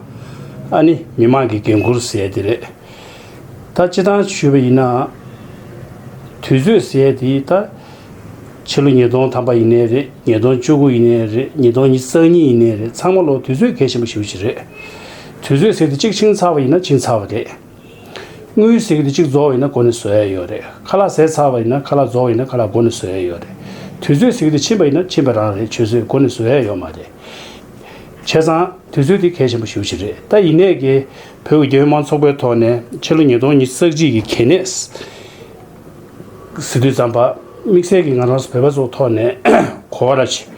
ཨ་ནི་མི་དམངས་ཀྱི་འགན་ཁུར་ཟེར་དེ་རེད། ད་སྤྱི་བཏང་ཞུས་པ་ཡིན་ན། དུས་ཚོད་ཟེར་དེ་ད་ཕྱི་ལོ་ཉིས་སྟོང་ཐམ་པ་ཡིན་ནའི་རེད་ཉིས་སྟོང་བཅུ་དགུ་ཡིན་ནའི་རེད་ཉིས་སྟོང་ཉིས་བརྩེགས་གཉིས་ཡིན་ནའི་རེད་ཚང་མ་བློ་དུས་ཚོད་གལ་ཆེན་པོ་ཞིག་ཡོད་ཀྱི་རེད། དུས་ཚོད་ཟེར་དུས་གཅིག་འཆིང་ཚར་བ་ཡིན་ན་འཆིང་ཚར་བ་རེད། དངུལ་ཟེར་དུས་གཅིག་རྫོགས་བ་ཡིན་ན་མགོ་ནས་བཟོ་ཡ་ཡོད་རེད། ཁ་ལག་ཟེར་ཚར་བ་ཡིན་ན་ཁ་ལག་རྫོགས་བ་ཡིན་ན་ཁ་ལག་མགོ་ནས་བཟོ་ཡ་ཡོད་རེད། དུས་ཚོད་ཟེར་དུས་འཆིང་བ་ཡིན་ན་འཆིང་བ་རང་རེད་ཆུད་ཟོས་མགོ་ནས་བཟོ་ཡ་ཡོད་མ་རེད། བྱས་ཙང་དུས་ཚོད་དེ་གལ་ཆེན་པོ་ཤུགས་ཆེ་རེད་ད་ཡིན་ནས་ཀྱི་བོད་ཀྱི་རྒྱལ་ཡོངས་མང་ཚོགས་པའི་ཐོག་ནས་ཕྱི་ལོ་ཉིས་སྟོང་ཉིས་བརྩེགས་གཅིག་གི་གལ་གནད་ཟེར་དུས་རྩམ་པ་དམིགས་བསལ་གྱི་ང་རང་སོགས་བོད་པ་ཚོ་ཐོག་ནས་གོ་བ་ར་བྱེད།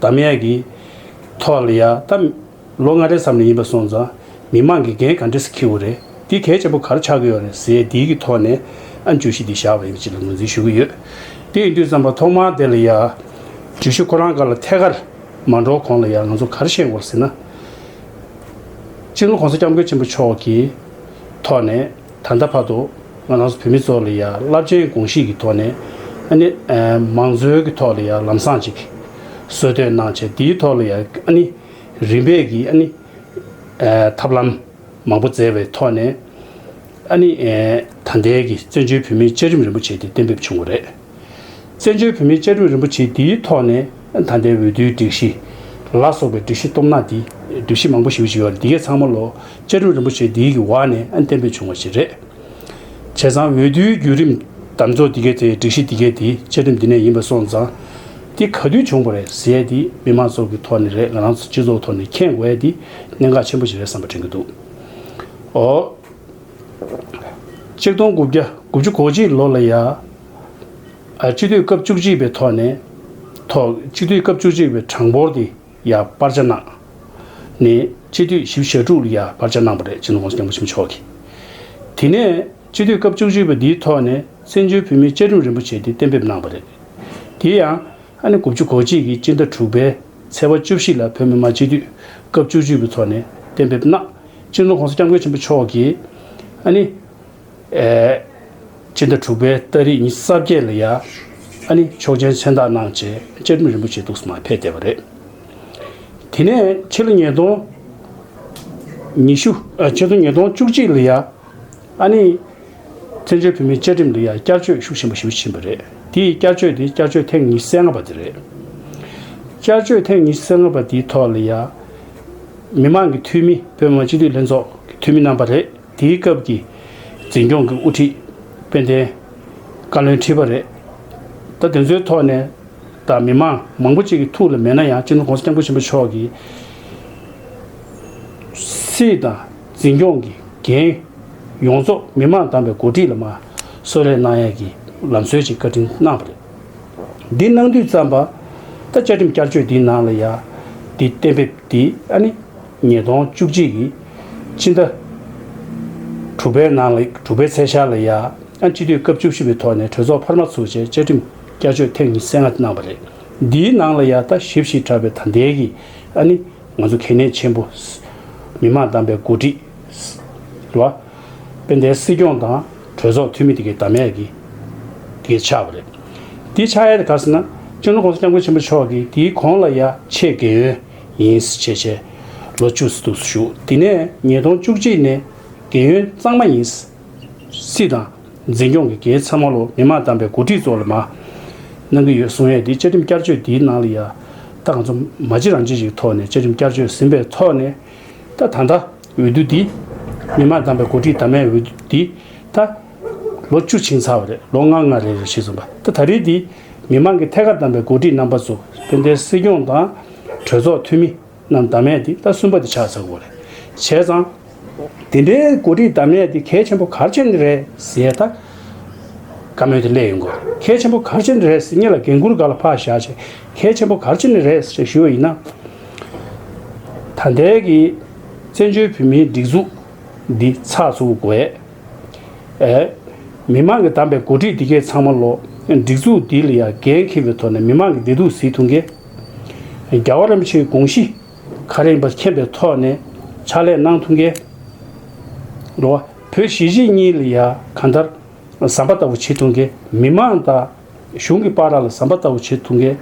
དམ་ཡེ་གི། ཐོག་ལ་ཡ་ད། ལོ་ལྔ་རེ་ཙམ་ལས་ཡིན་པ་སོང་ཙང། མི་མང་གི་འགན་ག་འདྲེ་ས་ཁེའུ་རེད། འདི་གལ་ཆེན་པོ་ག་རེ་ཆགས་ཀྱི་ཡོད་རེད་ཟེ་འདི་གི་ཐོག་ནས། ཨ་འཇུ་ཤི་འདི་བཞག་པ་ཡིན་པ་ཅིག་ལ་ངོས་འཛིན་ཞུ་གི་ཡོད། དེ་ཡིན་དུས་ཙམ་པ་ཐོག་མར་དེ་ལ་ཡ། འཇུ་ཤི་ཁོ་རང་ག་ལ་ཐད་ཀར། མ་འགྲོ་གོང་ལ་ཡ་ང་ཚོ་ག་རེ་བཤད་དགོས་ཟེ་ན། སྤྱི་ལོ་གོང་ས་སྐྱབས་མགོན་ཆེན་པོ་མཆོག་གི། ཐོག་ནས། ད་ལྟ་བར་དུ་ང་རང་སོགས་བོད་མི་ཚོ་ལ་ཡང་རླབས་ཆེན་དགོངས་གཞིས་ཀྱི་ཐོག་ནས་ཨ་ནི། མང་གཙོའི་གི་ཐོག་ལ་ཡང་ལམ་སང་ཅིག་གསོལ་སྟོན་གནང་ཆེད་དེའི་ཐོག་ལ་ཡང་ཨ་ནི། རིམ་པས་ཀྱི་ཨ་ནི། ཐབས་ལམ་མང་པོ་བཙལ་བའི་ཐོག་ནས་ཨ་ནི། ད་ལྟའི་གི་བཙན་བྱོལ་བོད་མིའི་བཅའ་རིམ་རིན་པོ་ཆེ་དེ་གཏན་འབེབས་བྱུང་བ་རེད། བཙན་བྱོལ་བོད་མིའི་བཅའ་ཁྲིམས་རིན་པོ་ཆེ་འདིའི་ཐོག་ནས་ད་ལྟའི་འོས་བསྡུའི་སྒྲིག་གཞི། ལ་སོགས་པའི་སྒྲིག་གཞི་གཏོང་ན་འདི་སྒྲིག་གཞི་མང་པོ་ཞིག་ཡོད་འདིའི་ཚང་མ་ལོ་བཅའ་ཁྲིམས་རིན་པོ་ཆེ་འདིའི་གི་བར་ནས་གཏན་འབེབས་བྱུང་བ་ཞིག་རེད། བྱས་ཙང་འོས་བསྡུའི་བརྒྱུད་རིམ་དམ་ཚོགས་འདི་གའི་དེ་སྒྲིག་གཞི་འདི་གའི་དེ་བཅའ་ཁྲིམས་འདི་ནས་ཡིན་པ་སོང་ཙང། འདི་ག་དུས་བྱུང་བ་རེད་ཟེར་དེ་མི་དམངས་ཚོགས་ཀྱི་ཐོག་ནས་རེད་ང་རང་ཚོ་སྤྱི་ཚོགས་ཐོག་ནས་མཁྱེན་དགོས་དེ་གནད་འགག་ཆེན་པོ་ཞིག་རེད་བསམ་པ་དྲན་གྱི་འདུག་ཨོ། གཅིག་སྟོང་དགུ་བརྒྱ་དགུ་བཅུ་གོ་གཅིག་ལོ་ལ་ཡ། གཅིག་སྡུད་སྐབས་བཅུ་གཅིག་པའི་ཐོག་ནས། ཐོག་གཅིག་སྡུད་སྐབས་བཅུ་གཅིག་པའི་གྲངས་འབོར་དེ་ཡ་སྤར་ཆ་གནང། ནས་གཅིག་སྡུད་བཞི་བཞི་དྲུག་ལ་ཡ་སྤར་ཆ་གནང་བ་རེད་ཅེས་ནོར་ཁོངས་སུ་སྐྱབས་འགོ་ཆེན་པོ་མཆོག་གིས། དེ་ནས་གཅིག་སྡུད་སྐབས་བཅུ་གཅིག་པ་འདིའི་ཐོག་ནས་བཙན་བྱོལ་བོད་མིའི་བཅའ་ཁྲིམས་རིན་པོ་ཆེ་དེ་གཏན་འབེབས་གནང་བ་རེད། དེ་ཡང། ཨ་ནེ་དགུ་བཅུ་གོ་གཅིག་གིས་སྤྱི་ཟླ་དྲུག་པའི་ཚེས་པ་བཅུ་བཞི་ལ་བོད་མི་མང་སྤྱི་འཐུས་སྐབས་བཅུ་བཅུ་པའི་ཚོགས་ནས་གཏན་འབེབས་གནང། སྤྱི་ནོར ྋགོང་ས ྋསྐྱབས་མགོན་ཆེན་པོ་མཆོག་གིས་ཨ་ནེ། སྤྱི་ཟླ་དྲུག་པའི་སྟ་རེས་ཉིན་གསར་བརྒྱད་ལ་ཡ་ཨ་ནེ་མཆོག་མཆན་མཚན་རྟགས་གནང་རྗེས་བཅའ་ཁྲིམས་རིན་པོ་ཆེ་གདུགས་སུ་མ་ཕེབས་བསྡད་པ་རེད། དེ་ནས་ཕྱི་ལོ་ཉིས་སྟོང་ཉི་ཤུ། ཕྱི་ལོ་ཉིས་སྟོང་བཅུ་གཅིག་ལ་ཡ་ཨ་ནེ། བཙན་བྱོལ་བོད་མིའི་བཅའ་ཁྲིམས་འདི་ཡང་བསྐྱར་བཅོས་ཤུགས་ཆེན་པོ་ཞུ་བཞིན་པ་རེད། དེ་ཡི་བསྐྱར་བཅོས་དེ་བསྐྱར་བཅོས་ཐེངས་ཉི་ཤུ་རྩེ་ལྔ་པ་དེ་རེད། བསྐྱར་བཅོས་ཐེངས་ཉི་ཤུ་རྩེ་ལྔ་པ་དེའི་ཐོག་ལ་ཡང། མི་མང་གི་འཐུས་མི་བོད་མི་མང་སྤྱི་འཐུས་ལྷན་ཚོགས་ཀྱི་འཐུས་མི་རྣམ་པ་རེད། དེའི་སྐབས་ཀྱི་འཛིན་སྐྱོང་གི་དབུ་ཁྲིད་དཔལ་ལྡན་བཀའ་བློན་ཁྲི་པ་རེད། ད་དེ་ཚོའི་ཐོག་ནས་ད་མི་མང་མང་པོ་གཅིག་གི་ཐུགས་ལ་མེད་ན་ཡང་སྤྱི་འདོམས་གོང་ས་སྐྱབས་མགོན་ཆེན་པོ་མཆོག་གིས། སྲིད་དང། འཛིན་སྐྱོང་གི་འགན། ཡོངས་རྫོགས་མི་དམངས་དམ་པའི་འགོ་ཁྲིད་ལ་མ་གསོལ་རས་གནང་ཡས་ཀྱི་ལམ་སྲོལ་ཞིག་བཀའ་དྲིན་གནང་བ་རེད། འདི་གནང་དུས་བརྩམས་པ། ད་བཅའ་ཁྲིམས་བསྐྱར་བཅོས་འདི་ནང་ལ་ཡ། འདི་གཏན་འབེབས་འདི་ཨ་ནི། ཉིས་སྟོང་བཅུ་གཅིག་གི། ཕྱི་ཟླ། དྲུག་པའི་ནང་ལ་དྲུག་པའི་ཚེས་ཤར་ལ་ཡ། ཨ་སྤྱི་འཐུས་སྐབས་བཅུ་བཞི་པའི་ཐོག་ནས་གྲོས་ཚོགས་འཕར་མ་ཚུགས་རྗེས་བཅའ་ཁྲིམས་བསྐྱར་བཅོས་ཐེངས་ཉི་ཚེ་ལྔ་གནང་བ་རེད། འདིའི་ནང་ལ་ཡ། ད་ཞིབ་ཞིག་དྲགས་པའི་ད་ལྟའི་གི་ཨ་ནི། ང་ཚོ་གལ་གནད་ཆེན་པོ། མི་དམངས་བདམས་པའི་འགོ་ཁྲིད། ལ། དཔལ་ལྡན་སྲིད་སྐྱོང་དང་གྲོས་ཚོགས་འཐུས་མི་དེ་གའི་དམ་ཡལ་གྱི། གྱི་ཆགས་པ་རེད། དེའི་ཆགས་ཡལ་དེ་ག་ཟེར་ན། བཅིངས་འགྲོལ་ཁོང་ས་སྐྱབས་མགོན་ཆེན་པོ་མཆོག་གིས་དེའི་གོང་ལ་ཡ་ཆེས་འགན་ཡོན་ཡིན་སྲིད་ཆེས་ཆེ། ལོ་བཅུ་སྲིད་དུ་བཞུགས་དེ་ནས་ཉིས་སྟོང་བཅུ་གཅིག་ནས་འགན་ཡོན་གཙང་མ་ཡིན། སྲིད་དང། འཛིན་སྐྱོང་གི་གེགས་ཚད་མ་ལོ་མི་དམངས་བདམས་པའི་འགོ་ཁྲིད་ཚོ་ལ་མ། གནང་གི་ཡོད་གསུངས་ཡས་དེ་བཅའ་ཁྲིམས་བསྐྱར་བཅོས་འདིའི་ནང་ལ་ཡ། ད་ག་ཚོ་མ་གཅིག་རང་གཅིག་ཞིག་ཐོག་ནས་བཅའ་ཁྲིམས་བསྐྱར་བཅོས་ཟིན་པའི་ཐོག་ནས། ད་ད་ལྟ་འོས་བསྡུ་འདི། མི་དམངས་བདམས་པའི་འགོ་ཁྲིད་དམ་མའི་འོས་བསྡུ་འདི། ད། ལོ་བཅུ་ཕྱིན་ཚར་བ་རེད་ལོ་ལྔ་ལྔ་རེ་རེ་ཞིག་སོང་པ་ད་ད་རེས་འདི། མི་དམངས་ཀྱི་ཐད་ཀར་བདམས་པའི་འགོ་ཁྲིད་རྣམ་པ་ཚོ་སྤེན་ཟླའི་སྲིད་སྐྱོང་དང། གྲོས་ཚོགས་འཐུས་མི། རྣམས་བདག་མེད་དེ་ད་གསུམ་པ་དེ་ཆགས་ཚར་བ་རེད་བྱས་ཙང། དེ་འདྲའི་གོ་སྒྲིག་བདག་མེད་དེ་གལ་ཆེན་པོ་གར་ཆེན་རེད་ཟེར་ད། བཀའ་མོལ་དེ་སླད་ཡོང་དགོས་རེད་གལ་ཆེན་པོ་གར་ཆེན་རེད་ཟེར་ངེད་ལ་འགན་འཁུར་ག་ལ་ཕག་བཞག་བྱས་གལ་ཆེན་པོ་གར་ཆེན་རེད་ཟེར་ཞུ་བ་ཡིན་ན། ད་ལྟའི་གི་བཙན་བྱོལ་བོད་མིའི་སྒྲིག་འཛུགས་འདི་ཚགས་ཚུགས་དགོས་ཨེ། མི་མང་གི་བདམས་པའི་གོ་སྒྲིག་འདི་གས་ཚང་མ་ལོ། སྒྲིག་འཛུགས་འདི་ལ་ཡང་འགན་འཁྱེར་བའི་ཐོག་ནས་མི་མང་གི་བདེ་སྡུག་གཟིགས་ཐུང་གས། རྒྱ་བ་རམ་ཆེའི་དགོངས་གཞི་ཁ་རིང་བ་མཁྱེན་པའི་ཐོག་ནས་ཕྱག་ལས་གནང་ཐུབ་མཁན། འགྲོ་བ་བོད་གཞིས་བྱེས་གཉིས་ལ་ཡང་གང་ལྟར་ཟམ་པ་ལྟ་བུ་བྱེད་ཐུབ་མཁན། མི་མང་དང་གཞུང་གི་པ་ར་ལ་ཟམ་པ་ལྟ་བུ་བྱེད་ཐུབ་མཁན།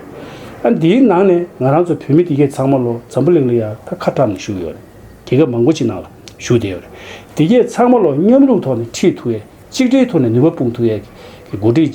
ཨ་འདིའི་ནང་ནས་ང་རང་ཚོ་བོད་མི་དེ་གས་ཚང་མ་ལོ་འཛམ་བུ་གླིང་ལ་ཡང་ད་ཁ་དྲངས་ནས་བཞུགས་ཡོད་རེད། རྒྱལ་ཁབ་མང་པོ་ཅིག་ནང་ལ་བཞུགས་བསྡད་ཡོད་རེད། དེ་གས་ཚང་མ་ལོ་མཉམ་རུབ་ཐོག་ནས་ཁྲིད་ཐུབ་ཡས་གཅིག་སྒྲིལ་ཐོག་ནས་ནུས་པ་སྤུངས་ཐུབ་ཡས་ཀྱི་གོ་སྒྲིག་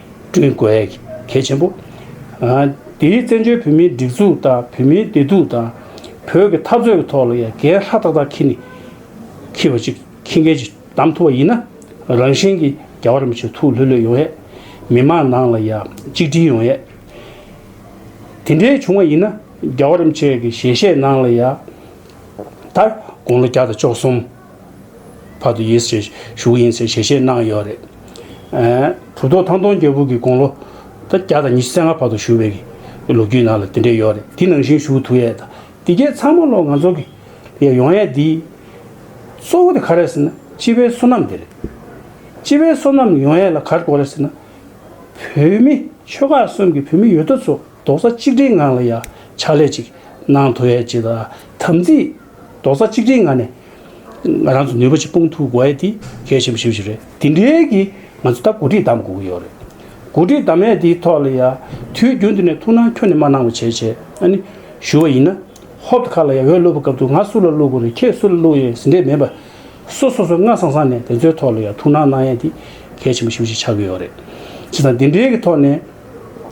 བསྐྲུན་དགོས་གལ་ཆེན་པོ། དེས་བཙན་བྱོལ་བོད་མིའི་སྒྲིག་འཛུགས་དང་བོད་མིའི་བདེ་སྡུག་དང། བོད་ཀྱི་འཐབ་རྩོད་ཀྱི་ཐོག་ལ་ཡང་འགན་ལྷ་ཏག་ཏག་འཁྱེར་ནས་འཁྱེར་བ་ཅིག་འཁྱེར་མཁན་ཅིག་གདམ་ཐུབ་པ་ཡིན་ན། རང་གཞན་གྱི་རྒྱ་བར་མི་ཆོད་ཐུགས་ལྷོད་ལྷོད་ཡོང་ཡས། མི་མང་ནང་ལ་ཡང་གཅིག་སྒྲིལ་ཡོང་ཡས། དེ་འདྲའི་བྱུང་བ་ཡིན་ན་རྒྱ་བར་མི་ཆོད་ཀྱི་ཞལ་བཞེས་ནང་ལ་ཡང་ད་དགོང་ལོ་བརྒྱ་དང་བཅོ་གསུམ། བར་དུ་ཡིས་ཞེས་ཞུ་གི་ཡིན་ཟེར་ཞལ་བཞེས་གནང་ཡོད་རེད། གྲུབ་ཐོབ་ཐང་སྟོང་རྒྱལ་པོ་གི་དགུང་ལོ་དང་བརྒྱ་དང་ཉི་ཤུ་རྩ་ལྔ་བར་དུ་བཞུགས་པའི་གི་ལོ་རྒྱུས་ནང་ལ་དེ་འདྲས་ཡོད་རེད་དེ་ནང་བཞིན་བཞུགས་ཐུག་ཡས་དང་དེ་རྒྱས་ཚང་མ་ལོ་ང་ཚོ་གི་ཡས་ཡོང་ཡས་དེ་གཙོ་བོ་དེ་ག་རེད་ཟེར་ན་སྤྱི་བའི་བསོད་ནམས་དེ་རེད། སྤྱི་བའི་བསོད་ནམས་ཡོང་ཡས་ལ་ག་རེ་དགོས་རེད་ཟེར་ན། བོད་མི་ཆོལ་ཁ་གསུམ་གི་བོད་མི་ཡོད་དོ་ཚོ་རྡོག་རྩ་གཅིག་སྒྲིལ་ངང་ལ་ཡ་ཕྱག་ལས་ཅིག་གནང་ཐུག་ཡས་ཅེས་དམ་ཚིག་རྡོག་རྩ་གཅིག་སྒྲིལ་ངང་ནས་ང་རང་ཚོ་ནུས་པ་ཆེ་དཔུང་འཐུག་དགོས་དེ་གལ་ཆེན་པོ་ཞིག་རེད་དེ་འབྲེལ་གྱི་ང་ཚོ་ད་གོ་སྒྲིག་གདམ་དགོས་ཀྱི་ཡོད་རེད་གོ་སྒྲིག་གདམ་ཡས་དེའི་ཐོག་ལ་ཡ་དུས་རྒྱུན་དུ་ནས་ཐུགས་སྣང་ཁྱོད་ནས་མ་གནང་བ་བྱས་བྱས་ཨ་ནི་ཞུ་བ་ཡིན་ན་ཧོབ་ཏུ་ཁ་ལ་ཡ་འོས་བླུག་པ་སྐབས་དུ་ང་སུ་ལ་བླུག་དགོས་རེད་ཁྱེད་སུ་ལ་བླུག་ཡས་ཟིན་འདྲེ་མེད་པ་སུ་སོ་སོ་སྔ་སང་སང་ནས་དེ་ཚོའི་ཐོག་ལ་ཡ་ཐུགས་སྣང་གནང་ཡས་དེ་གལ་ཆེན་པོ་ཞིག་ཅིག་ཆགས་ཀྱི་ཡོད་རེད་ཅེས་དང་དེ་འབྲེལ་གྱི་ཐོག་ནས་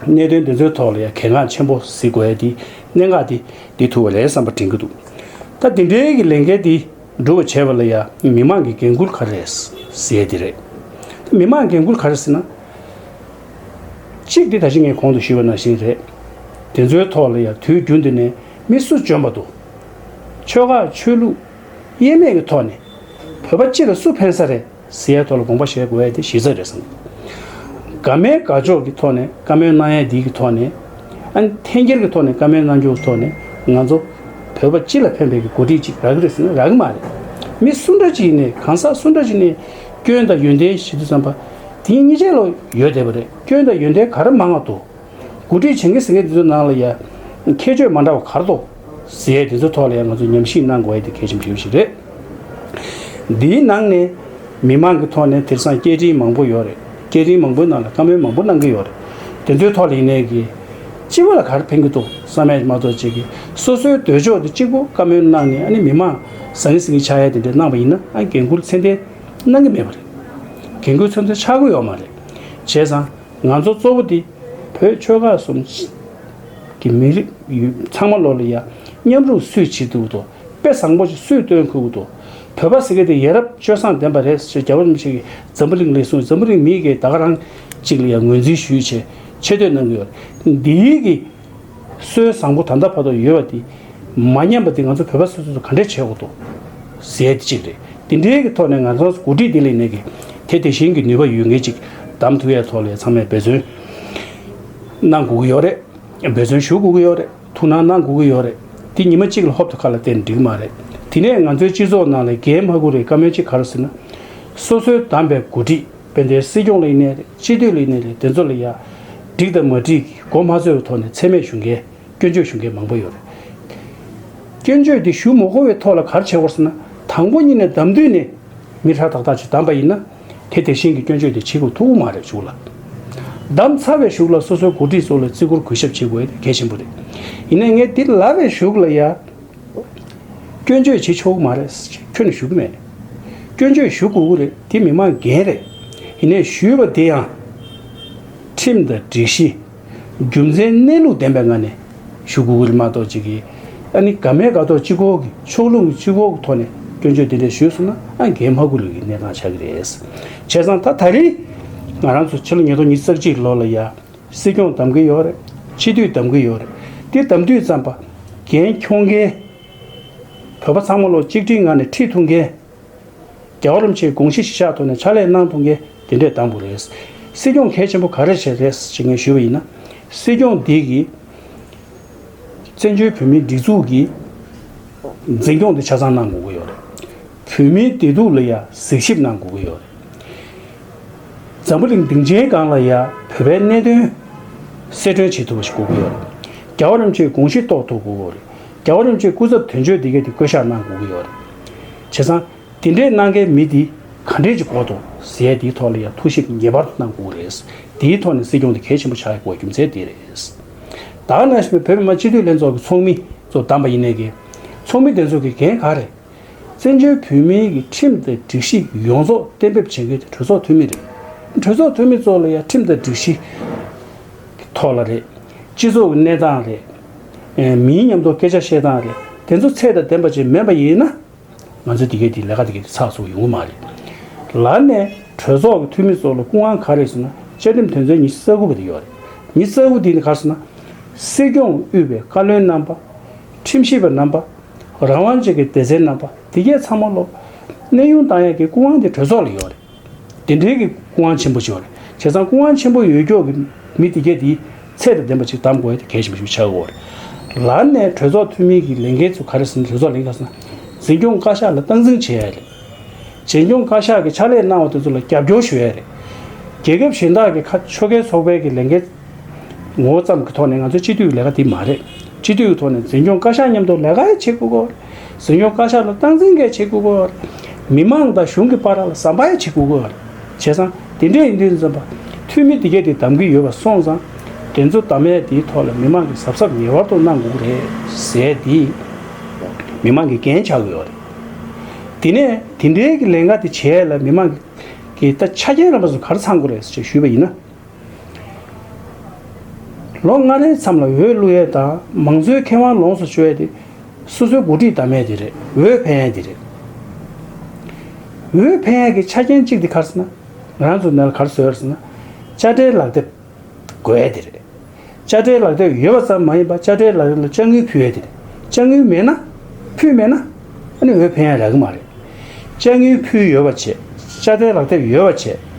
གནད་དོན་དེ་ཚོའི་ཐོག་ལ་ཡ་གལ་འགངས་ཆེན་པོ་གཟིགས་དགོས་ཡས་དེ་གནད་འགག་དེ། འདི་ཐུ་བ་ལས་བསམ་པ་དྲན་གྱི་འདུག་ད་འདི་འདྲའི་གི་ལས་འགན་འདི་སྒྲུབ་བ་བྱས་པ་ལ་ཡ་མི་མང་གི་འགན་ཁུར་ག་རེ་རེད་ཟེར་དེ་རེད་ད་མི་མང་འགན་ཁུར་ག་རེ་ཟེར་ན། གཅིག་འདི་ད་གཞི་ངས་གོང་དུ་ཞུས་པ་ནང་བཞིན་རེད་དེ་ཚོའི་ཐོག་ལ་ཡ་དུས་རྒྱུན་འདི་ནས་མི་སུ་འཇོན་པ་འདུག་ཆོལ་ཁ་ཆོས་ལུགས་དབྱེར་མེད་ཀྱི་ཐོག་ནས་བོད་པ་སྤྱི་ལ་སུ་ཕན་ས་རེད། སི་ཡའི་ཐོག་ལ་དགོངས་པ་བཞེས་དགོས་ཡ་དེ་གཞི་རྩ་རེད་བསམ། དགའ་མའི་དགའ་ཕྱོགས་ཀྱི་ཐོག་ནས་བཀའ་མོལ་གནང་ཡ་དེའི་གི་ཐོག་ནས། ཨན། འཐེན་འཁྱེར་གི་ཐོག་ནས་བཀའ་མོལ་གནང་རྒྱུ་གི་ཐོག་ནས་ང་ཚོ། བོད་པ་སྤྱི་ལ་ཕན་པའི་གི་འགོ་ཁྲིད་ཅིག་རག་གི་རེད་ཟེར་ན་རག་གི་མ་རེད། མི་སུ་འདྲ་ཅིག་ནས་གང་ཟག་སུ་འདྲ་ཅིག་ནས། སྐྱོན་དང་ཡོན་ཏན་ཞིབ་ཏུ་བསམ་པ། དེ་གཉིས་ཆ་ལོ་ཡོད་བསྡད་པ་རེད་སྐྱོན་དང་ཡོན་ཏན་ག་རེ་མང་ང་འདུག། འགོ་ཁྲིད་བྱེད་མཁན་ཟེར་མཁན་དེ་ཚོའི་ནང་ལ་ཡ། ཁྱད་ཆོས་མ་འདྲ་བ་ག་རེ་འདུག། ཟེར། དེ་ཚོའི་ཐོག་ལས་ང་ཚོས་ཉམས་ཞིབ་གནང་དགོས་ཡ་དེ་གལ་ཆེན་པོ་ཞིག་རེད། འདིའི་ནང་ནས་མི་མང་གི་ཐོག་ནས་དེར་སང་སྐད་འཕྲིན་མང་པོ་ཡོད་རེད། སྐད་འཕྲིན་མང་པོའི་ནང་ལ་བཀའ་མོལ་མང་པོ་གནང་གི་ཡོད་རེད། དེ་ཚོའི་ཐོག་ལས་ནས་ཀྱི། སྤྱི་བོ་ལ་ག་རེ་ཕན་གི་འདུག་ས་མས་མ་གཏོགས་བྱེད་ཀྱི། སོ་སོའི་འདོད་ཕྱོགས་དེ་གཅིག་པོ་བཀའ་མོལ་གནང་ནས་ཨ་ནི་མི་མང་ཟང་ངེ་ཟིང་ངེ་ཆགས་ཡ་དེ་འདྲ་གནང་བ་ཡིན་ན་ཨ་འགན་ཁུར་ཚད་ལྡན་གནང་གི་མེད་པ་རེད། འགན་ཁུར་ཚོད་འཛིན་ཆགས་གི་ཡོད་མ་རེད། བྱས་ཙང། ང་ཚོ་གཙོ་བོ་དེ་བོད་ཆོལ་ཁ་གསུམ་གྱི་མི་རིགས་ཡུལ་ཚང་མ་ལོ་ལ་ཡ་མཉམ་རུང་བསུད་བྱེད་དུ་དོ་དཔེ་བཟང་པོ་ཞིག་སུས་སྟོན་ཁུལ་དུ་བོད་པ་ཟེར་མཁན་དེ་ཡ་རབས་སྤྱོད་བཟང་ལྡན་པ་རེད་ཟེར་རྒྱ་རམ་ཤིང་གི་འཛམ་བུ་གླིང་ལས་གསུངས་འཛམ་བུ་གླིང་མི་ཡི་གེ་དག་རང་གཅིག་ལ་ཡང་ངོས་འཛིན་ཞུས་ཆེ་ཆེ་བསྟོད་གནང་གི་ཡོད་འདིའི་གི། སྲོལ་བཟང་པོ་ད་ལྟ་བར་དུ་ཡོད་པ་དེ་མ་ཉམས་པ་དེ་ང་ཚོ་བོད་པ་སོ་སོས་ག་འདྲས་བྱེད་དགོས་དོ་ཟེར་དེ་གཅིག་རེད་དེ་འདྲའི་གི་ཐོག་ནས་ང་ཚོ་འགོ་ཁྲིད་དེ་ལས་ནས་གི་དེ་དེ་བཞིན་གི་ནུས་པ་ཡོད་ངེས་ཅིག་དམ་དུ་ཡའི་ཐོག་ལས་ཚང་མས་འབད་བརྩོན་གནང་དགོས་ཀྱི་ཡོད་རེད་འབད་བརྩོན་ཞུ་དགོས་ཀྱི་ཡོད་རེད་ཐུགས་སྣང་གནང་དགོས་ཀྱི་ཡོད་རེད་དེ་ཉི་མ་གཅིག་ལ་ཧོབ་ཏུ་ཁ་ལ་བསྟན་འགྲིག་གི་མ་རེད་དེ་ནས་ང་ཚོའི་སྤྱི་ཚོགས་ནང་ལས་འགན་མ་ཁུར་བའི་བཀའ་མོལ་གཅིག་ག་རེ་ཟེར་ན། སོ་སོའི་བདམས་པའི་འགོ་ཁྲིད། དཔལ་ལྡན་སྲིད་སྐྱོང་ལེགས་གནས་རེད་སྤྱི་འཐུས་ལེགས་གནས་རེད་དེ་ཚོ་ལ་ཡ། འགྲིག་དང་མ་འགྲིག་གི་མགོ་མ་ཚོས་བའི་ཐོག་ནས་ཚད་མས་ཞུ་མཁན་སྐྱོན་བརྗོད་ཞུ་མཁན་མང་པོ་ཡོད་རེད། སྐྱོན་བརྗོད་དེ་ཞུ་མ་གོ་བའི་ཐོག་ལ་གར་བྱེད་དགོ་ཟེར་ན་དང་པོ་གཉིས་ནས་བདམས་དུས་ནས་མི་ཧྲ་ཐག་ཐག་ཅིག་བདམས་པ་ཡིན་ན། དེ་དེ་བཞིན་གྱི་སྐྱོན་བརྗོད་དེ་བྱེད་དགོས་ཐུག་གོ་མ་རེད་ཞུ་ལ། བདམས་ཚར་བའི་ཞུགས་ལ་སོ་སོའི་འགོ་ཁྲིད་ཚོ་ལ་བརྩི་བཀུར་གུས་ཞབས་བྱེད་དགོས་གལ་ཆེན་པོ་རེད། ཡིན་ན་ངས་འདི་ལ་བའི་ཞུགས་ལ་ཡ། སྐྱོན་བརྗོད་བྱེད་ཆོག་གི་མ་རེད། ཁྱོད་ནས་ཞུ་གི་མེད། སྐྱོན་བརྗོད་ཞུ་དགོས་ཀྱི་རེད་དེ་མི་མང་འགན་རེད། ཡིན་ནས་ཞུས་པ་དེ་ཡང། ཁྲིམས་དང་སྒྲིག་གཞི། རྒྱུ་མཚན་གནས་ལུགས་ལྡན་པའི་ངང་ནས་ཞུ་དགོས་ཀྱི་རེད་མ་གཏོགས་ཅིག་གིས་ཨ་ནི་དགའ་མེད་དགའ་ཐོག་སྤྱི་ཁོག་གི་ཕྱོགས་ལྷུང་གི་སྤྱི་ཁོག་གི་ཐོག་ནས་སྐྱོན་བརྗོད་དེ་འདྲ་ཞུས་སོང་ན་ཨ་འགན་མ་འཁུར་ལོས་ཀྱི་གནས་སྟངས་ཆགས་ཀྱི་རེད། བྱས་ཙང་ད་ད་རིང། ང་རང་ཚོ་ཕྱི་ལོ་ཉིས་སྟོང་ཉིས་བརྩེགས་གཅིག་ལོ་ལ་ཡ། སྲིད་སྐྱོང་གདམ་གི་ཡོད་རེད། སྤྱི་འཐུས་གདམ་གི་ཡོད་རེད། དེ་གདམ་དུས་ཙམ་པརྒན་འཁྱོངས་མཁན། བོད་པ་ཚང་མ་ལོ་གཅིག་ཁྲིའི་ངང་ནས་ཁྲིད་ཐུབ་མཁན། རྒྱ་གར་རམ་ཕྱིའི་དགོངས་གཞི་གཞི་བཞག་ཐོག་ནས་ཕྱག་ལས་གནང་ཐུབ་མཁན་དེ་འདྲས་གདམ་དགོས་རེད། སྲིད་སྐྱོང་གལ་ཆེན་པོ་ག་རེ་བྱེད་རེད་ཅེས་ངས་ཞུས་པ་ཡིན་ན། སྲིད་སྐྱོང་འདི་གིས། བཙན་བྱོལ་བོད་མིའི་སྒྲིག་འཛུགས་ཀྱི་འཛིན་སྐྱོང་དེ་ཆ་ཚང་གནང་དགོས་ཀྱི་ཡོད་རེད། བོད་མིའི་བདེ་སྡུག་ལ་ཡང་གཟིགས་ཞིབ་གནང་དགོས་ཀྱི་ཡོད་རེད། འཛམ་བུ་གླིང་སྡིངས་ཆའི་སྒང་ལ་ཡང་བོད་པའི་གནད་དོན་གསལ་སྒྲོན་བྱེད་ཐུབ་པ་ཞིག་དགོས་ཀྱི་ཡོད་རེད། རྒྱ་བོད་རིམ་བྱོན་དགོངས་གཞི་རྟོགས་ཐུབ་དགོས་ཀྱི་ཡོད་རེད། རྒྱ་བོད་རིམ་བྱོན་སྐུ་ཚབ་དོན་གཅོད་འདི་གའི་དེ་བསྐོ་གཞག་གནང་དགོས་ཀྱི་ཡོད་རེད། བྱས་ཙང་དེ་འདྲས་གནང་མཁན་མི་དེ་ག་འདྲས་ཀྱི་གོ་དོ་ཟད་དེའི་ཐོག་ལ་ཡང་ཐུགས་ཞིབ་ངེས་པར་གནང་དགོས་ཀྱི་རེད། དེའི་ཐོག་ནས་སྲིད་སྐྱོང་དེ་གལ་ཆེན་པོ་ཆགས་ཡོད་དགོས་རྒྱུ་མཚན་དེ་རེད། ད་ནངས་བོད་མི་མང་སྤྱི་འཐུས་ལྷན་ཚོགས་ཀྱི་ཚོགས་མི་གཙོ་བདམས་པ་ཡིན་ནའི་ཀྱི། ཚོགས་མི་དེ་ཚོ་གི་འགན་ག་རེད། བཙན་བྱོལ་བོད་མིའི་གི་ཁྲིམས་དང་སྒྲིག་གཞི་ཡོངས་རྫོགས་གཏན་འབེབས་བྱེད་མཁན་དེ་གྲོས་ཚོགས་འཐུས་མི་རེད། གྲོས་ཚོགས་འཐུས་མི་ཚོ་ལ་ཡང་ཁྲིམས་དང་སྒྲིག་གཞི། གི་ཐོག་ལ་རེད། སྤྱི་ཚོགས་ཀྱི་གནས་སྟངས་རེད། མིའི་ཉམས་རྟོགས་སྐད་ཆ་བཤད་སྟངས་རེད། དེ་ཚོ་ཚད་དང་ལྡན་པ་ཅིག་མེད་པ་ཡིན་ན། ང་ཚོས་འདི་གའི་འདི་ལས་ཀ་འདི་གའི་འདི་ཚགས་ཚུགས་ཡོང་གི་མ་རེད། ལར་ནས་གྲོས་ཚོགས་ཀྱི་འཐུས་མི་ཚོ་ལ་སྐུ་དབང་ག་རེད་ཟེར་ན་བཅའ་ཁྲིམས་དོན་ཚན་ཉི་ཤུ་རྩ་དགུ་པ་དེ་ཡོད་རེད། ཉི་ཤུ་རྩ་དགུ་དེ་ནི་ག་རེ་ཟེར་ན། སྲིད་སྐྱོང་དབུས་པའི་བཀའ་བློན་རྣམ་པ། ཁྲིམས་ཞིབ་པ་རྣམ་པ། རང་དབང་ཅན་གྱི་སྡེ་ཚན་རྣམ་པ་འདི་བརྒྱད་ཚང་མ་སློབ། གནས་དབྱུང་བཏང་ཡག་གི་སྐུ་དབང་དེ་གྲོས་ཚོགས་ལ་ཡོད་རེད། དེ་འབྲེལ་གྱི་སྐུ་དབང་ཆེན་པོ་ཞིག་ཡོད་རེད་བྱས་ཙང་སྐུ་དབང་ཆེན་པོ་ཡོད་མགྱོགས་ཀྱི་མི་འདི་བརྒྱད་འདིའི་ཚད་དང་ལྡན་པ་ཅིག་གདམ་དགོས་ཡ་དེ་གལ་ཆེན་པོ་ཞིག་ཆགས་དགོས་རེད། ལར་ནས་གྲོས་ཚོགས་འཐུས་མི་གྱི་ལས་འགན་ཚུ་ག་རེ་ཟིན་གྲོས་ཚོགས་ལས་འགན་ཟིན། འཛིན་སྐྱོང་བཀའ་ཤག་ལ་སྟངས་འཛིན་བྱས་ཡ་རེད། བྱེས་སྐྱོང་བཀའ་ཤག་གི་ཕྱག་ལས་གནང་བ་དེ་ཚོ་ལ་རྒྱབ་སྐྱོར་ཞུ་ཡ་རེད། རྒྱལ་ཁབ་གཞན་དག་གི་ཁ་ཕྱོ་གས་ཚོགས་པའི་གི་ལས་འགན། ངོ་བོ་ཙམ་གྱི་ཐོག་ནས་ང་ཚོའི་སྤྱི་འཐུས་ཀྱི་ལས་ཀ་དེ་མ་རེད། སྤྱི་འཐུས་ཀྱི་ཐོག་ནས་འཛིན་སྐྱོང་བཀའ་ཤག་མཉམ་དུ་ལས་ཀ་ཡང་བྱེད་དགོས་སྐོར། འཛིན་སྐྱོང་བཀའ་ཤག་ལ་སྟངས་འཛིན་འགའ་བྱེད་དགོས་སྐོར། མི་མང་དང་གཞུང་གི་པར་ལ་ཟམ་པ་ཡང་བྱེད་དགོས་སྐོར། བྱས་ཙང་དེ་འདྲས་ཡིན་དུས་འཛིན་པ་འཐུས་མི་འདི་གས་དེ་གདམ་གྱི་ཡོད་པ་སོང་ཙང། དེ་ཚོ་གདམ་ཡས་དེའི་ཐོག་ལ་མི་མང་གིས་གཟབ་གཟབ་ངེས་བར་དུ་གནང་དགོས་ཀྱི་རེད། ཟེར་དེ། མི་མང་གིས་འགན་བྱ་དགོས་པ་རེད། དེ་ནས་དེ་འདྲས་ཀྱི་ལས་འགའ་དེ་བྱས་ལ་མི་མང་གིས་ད་ཆ་རྒྱལ་རམས་པ་ཚོ་གར་ཚང་དགོས་རེད་ཟེར་ཞེས་ཞུས་པ་ཡིན་ན། ལོ་ལྔ་རེའི་མཚམས་ལ་འོས་བླུགས་ཡས་དང་མང་གཙོའི་ཁེ་དབང་ལོངས་སུ་སྤྱོད་ཡས་དེ། སོ་སོའི་འགོ་ཁྲིད་བདམས་ཡས་དེ་རེད་འོས་འཕེན་ཡས་དེ་རེད། འོས་འཕེན་ཡས་ཀྱི་ཆ་རྐྱེན་གཅིག་དེ་གར་སོང་ན། རང་ཚུགས་ནས་ལ་གར་བཟོ་ཡས་སོང་ན། དཔྱ་ཁྲལ་ལག་དེབ་དགོས་ཡས་དེ་རེད། དཔྱ་ཁྲལ་ལག་དེབ་ཡོད་པ་ཙམ་མ་ཡིན་པར་དཔྱ་ཁྲལ་ལག་དེབ་ལ་དཔྱ་དངུལ་ཕུལ་ཡོད་དེ། དཔྱ་དངུལ་མེད་ན། ཕུལ་མེད་ན། ཨ་ནི་འོས་འཕེན་ཡང་རག་གི་མ་རེད། དཔྱ་དངུལ་ཕུལ་ཡོད་པ་བྱས། དཔྱ་ཁྲལ་ལག་དེབ་ཡོད་པ་བྱས།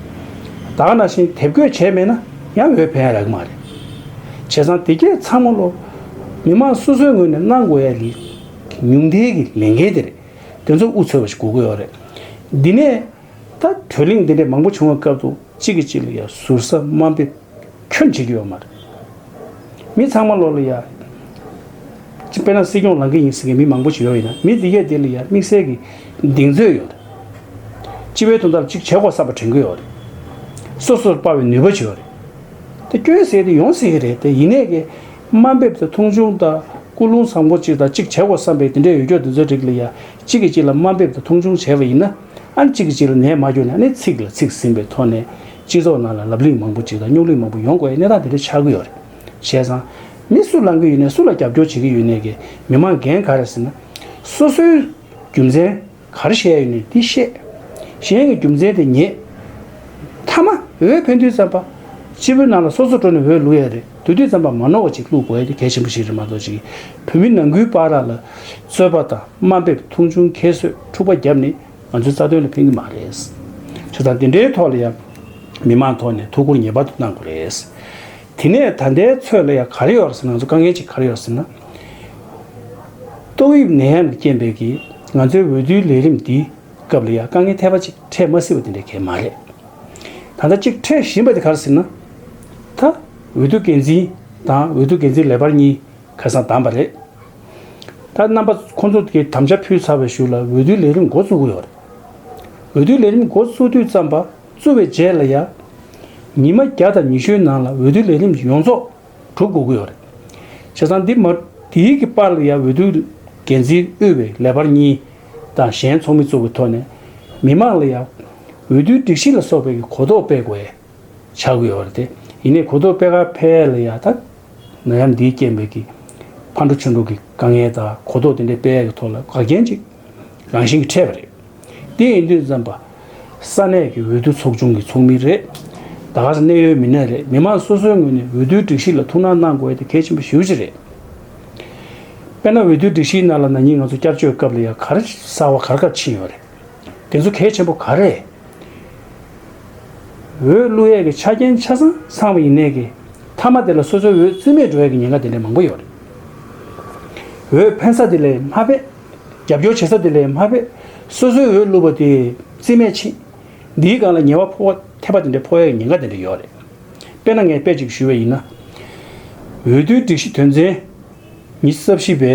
དག་ན་བཞིན་དེབ་འགོད་བྱས་མེད་ན་ཡང་འོས་འཕེན་ཡང་རག་གི་མ་རེད། བྱས་ཙང་དེ་གས་ཚང་མ་ལོ། མི་མང་སོ་སོའི་ངོས་ནས་གནང་དགོས་ཡ་ལི། ཉུང་མཐའི་གི་ལས་འགན་དེ་རེད། དེ་ཚོ་འུ་ཚོས་བ་ཞིག་གོ་དགོས་ཡོད་རེད། འདི་ནས། ད་གྲོས་གླེང་འདི་འདྲས་མང་པོ་བྱུང་བའི་སྐབས་དུ་གཅིག་གི་གཅིག་ལ་ཡང་ཟུར་ཟ་དམའ་འབེབས། ཁྱོད་འཇིགས་ཡོད་མ་རེད། མི་ཚང་མ་བློ་ལ་ཡ། དཔེར་ན་སྲིད་སྐྱོང་ལང་ཀི་ཡིན་ཟེར་མཁན་མི་མང་པོ་ཞིག་ཡོད་ཡིན་ན་མི་དེ་གས་དེ་ལ་ཡ་དམིགས་བསལ་གྱི་གདེང་ཚོད་ཡོད་རེད། སྤྱི་བའི་དོན་དག་ཅིག་བྱེད་དགོས་ས་པ་དྲན་གི་ཡོད་རེད། སོ་སོར་དཔའ་བའི་ནུས་པ་བྱས་ཡོད་རེད། དེ་སྐྱོན་ཟེར་དེ་ཡོང་སྲིད་ཀྱི་རེད་དེ་ཡིན་ནས་དམའ་འབེབས་དང་མཐོང་ཆུང་དང་ཀུན་སློང་བཟང་པོ་ཅིག་དང་ཅིག་བྱེད་དགོས་བསམ་པའི་དེ་འདྲའི་འོས་སྐྱོར་དེ་ཚོའི་རིགས་ལ་ཡ་གཅིག་གིས་གཅིག་ལ་དམའ་འབེབས་དང་མཐོང་ཆུང་བྱས་པ་ཡིན་ན་ཨང་གཅིག་གིས་གཅིག་ལ་ནད་མ་བསྐྱུར་ནས་ཨ་ནི་ཚིག་ལ་ཚིག་ཟིན་པའི་ཐོག་ནས་སྤྱི་ཚོགས་ནང་ལ་ལབ་གླེང་མང་པོ་ཅིག་དང་རྙོག་གླེང་མང་པོ་ཡོང་དགོས་པའི་གནས་སྟངས་དེ་འདྲ་ཆགས་ཀྱི་ཡོད་རེད། བཤད་ཙང། མི་སུ་བསླང་གི་ཡོད་ནས་སུ་ལ་རྒྱབ་སྐྱོར་བྱེད་ཀྱི་ཡོད་ནས་ཀྱི་མི་དམངས་འགན་ག་རེ་ཟེར་ན། སོ་སོའི་རྒྱུ་མཚན་ག་རེ་བཤད་ཡོད་ནས་དེ་བཤད། གཞན་གྱི་རྒྱུ་མཚན་དེ་ཉེས། མཐའ་མ། འོས་འཕེན་དུས་ཙམ་པ། སྤྱི་བོའི་ནང་ལ་སོ་སོ་དྲོ་ནས་འོས་བླུག་ཡ་རེད་དུས་དུས་ཙམ་པ་མ་ནོར་བ་ཅིག་བླུག་དགོས་ཡ་དེ་གལ་ཆེན་པོ་ཞིག་རེད་མ་གཏོགས་ཅིག་བོད་མི་ནང་ཁུལ་པ་ར་ལ་རྩོད་པ་དང་དམའ་འབེབས་མཐོང་ཆུང་ཁྱད་གསོད་འཁྲུག་པ་རྒྱབ་ནས་ང་ཚོའི་རྩ་དོན་ལ་ཕན་གྱི་མ་རེད། ཆོས་ཚང་འདི་འདྲའི་ཐོག་ལ་ཡང་མི་མང་ཐོག་ནས་ཐུགས་ཁུར་ངེས་པར་དུ་གནང་དགོས་རེད། དེ་ནས་ད་ལྟའི་ཚོད་ལ་ཡང་ག་རེ་ཡོད་རེད་ཟེར་ན་ང་ཚོ་དཀའ་ངལ་ཅིག་ག་རེ་ཡོད་རེད་ཟེར་ན། ཏོག་དབྱིབས་ནད་ཡམས་ཀྱི་རྐྱེན་པས་ཀྱིས་ང་ཚོའི་འོས་བསྡུའི་ལས་རིམ་འདིའི་སྐབས་ལ་ཡང་དཀའ་ངལ་ཐེབས་པ་ཅིག་འཕྲད་མ་སྲིད་པ་དེ་འདྲ་གལ་མ་རེད། ད་ལྟ་ཅིག་འཕྲད་བཞིན་པ་དེ་ག་རེ་ཟེར་ན། ད་འོས་བསྡུ་འགན་འཛིན་དང་འོས་བསྡུ་འགན་འཛིན་ལས་འཕར་གཉིས་ཁ་སང་བདམས་པ་རེད། ད་རྣམ་པ་ཁོང་ཚོ་གིས་དམ་བཅའ་ཕུལ་ཚར་བའི་ཞུ་ལ་འོས་བསྡུའི་ལས་རིམ་འགོ་བཙུགས་ཀྱི་ཡོད་རེད། འོས་བསྡུའི་ལས་རིམ་འགོ་བཙུགས་དུས་བརྩམས་པ་བཙུགས་བའི་རྗེས་ལ་ཡ། ཉི་མ་བརྒྱ་དང་ཉི་ཤུའི་ནང་ལ་འོས་བསྡུའི་ལས་རིམ་ཡོངས་རྫོགས་གྲུབ་དགོས་ཀྱི་ཡོད་རེད། བྱས་ཙང་འདི་མ་འདིའི་གི་པར་ལ་ཡ་འོས་བསྡུའི་འགན་འཛིན་དབུས་བའི་ལས་འཕར་གཉིས་དང་གཞན་ཚོགས་མི་བཙུགས་པའི་ཐོག་ནས། མི་མང་ལ་ཡ། འོས་བསྡུའི་སྒྲིག་གཞི་ལ་སོགས་པའི་གི་གོ་རྟོགས་སྤེལ་དགོས། བྱ་དགོས་པ་རེད་དེ། ཡིན་ནའི་གོ་ཐོབ་དཔེ་ཁག་ཕལ་ཡག་དག་ན་ཡང་འདིའི་རྐྱེན་པས་ཀི། ཕར་འགྲོ་ཕྱིར་འགྲོ་གི་དཀའ་ངལ་དག་གོ་ཐོབ་དེ་འདྲའི་དཔེ་ཡག་གི་ཐོག་ལ་དགག་རྐྱེན་ཅིག་རང་བཞིན་གྱི་འཕྲད་པ་རེད། དེ་ཡིན་དུས་འཛམ་བུ་ས་གནས་ཀྱི་འོས་བསྡུ་ཚོགས་ཆུང་གི་ཚོགས་མི་རེད། དགའ་ས་གནས་ཡོད་མི་སྣ་རེད་མི་མང་སོ་སོའི་ངོས་ནས་འོས་བསྡུའི་སྒྲིག་གཞི་ལ་ཐུགས་སྣང་གནང་དགོས་དེ་གལ་ཆེན་པོ་ཞེ་བཞི་རེད། དཔེར་ན་འོས་བསྡུའི་སྒྲིག་གཞིའི་ནང་ལ་ན་ནིང་ང་ཚོ་བསྐྱར་བཅོས་སྐབས་ལ་ཡང་གར་སར་བ་གར་སྐབས་ཕྱིན་ཡོད་རེད། དེ་ཚོ་གལ་ཆེན་པོ་ག་རེད། འོས་བླུག་ཡས་ཀྱི་ཆ་རྐྱེན་ཆ་ཚང་ཚང་བ་ཡིན་ནས་ཀྱི་མཐའ་མ་དེ་ལ་སོ་སོའི་འོས་རྩིས་མེད་འགྲོ་ཡས་ཀྱི་ཉེན་ཁ་དེ་འདྲས་མང་པོ་ཡོད་རེད། འོས་འཕེན་ས་དེ་ལས་མ་དཔེ། རྒྱབ་སྐྱོར་བྱེད་ས་དེ་ལས་མ་དཔེ། སོ་སོའི་འོས་བླུག་པ་དེ་རྩིས་མེད་ཕྱིན། འདིའི་སྒང་ལ་ཉེས་བ་ཕོག་བ་ཐེབས་པ་དེ་འདྲས་ཕོག་ཡས་ཀྱི་ཉེན་ཁ་དེ་འདྲས་ཡོད་རེད། དཔེ་ན་ངས་དཔེ་ཅིག་ཞུས་བ་ཡིན་ན། འོས་བསྡུའི་སྒྲིག་གཞི་དོན་ཚན་ཉི་གསབ་བཞི་པའི་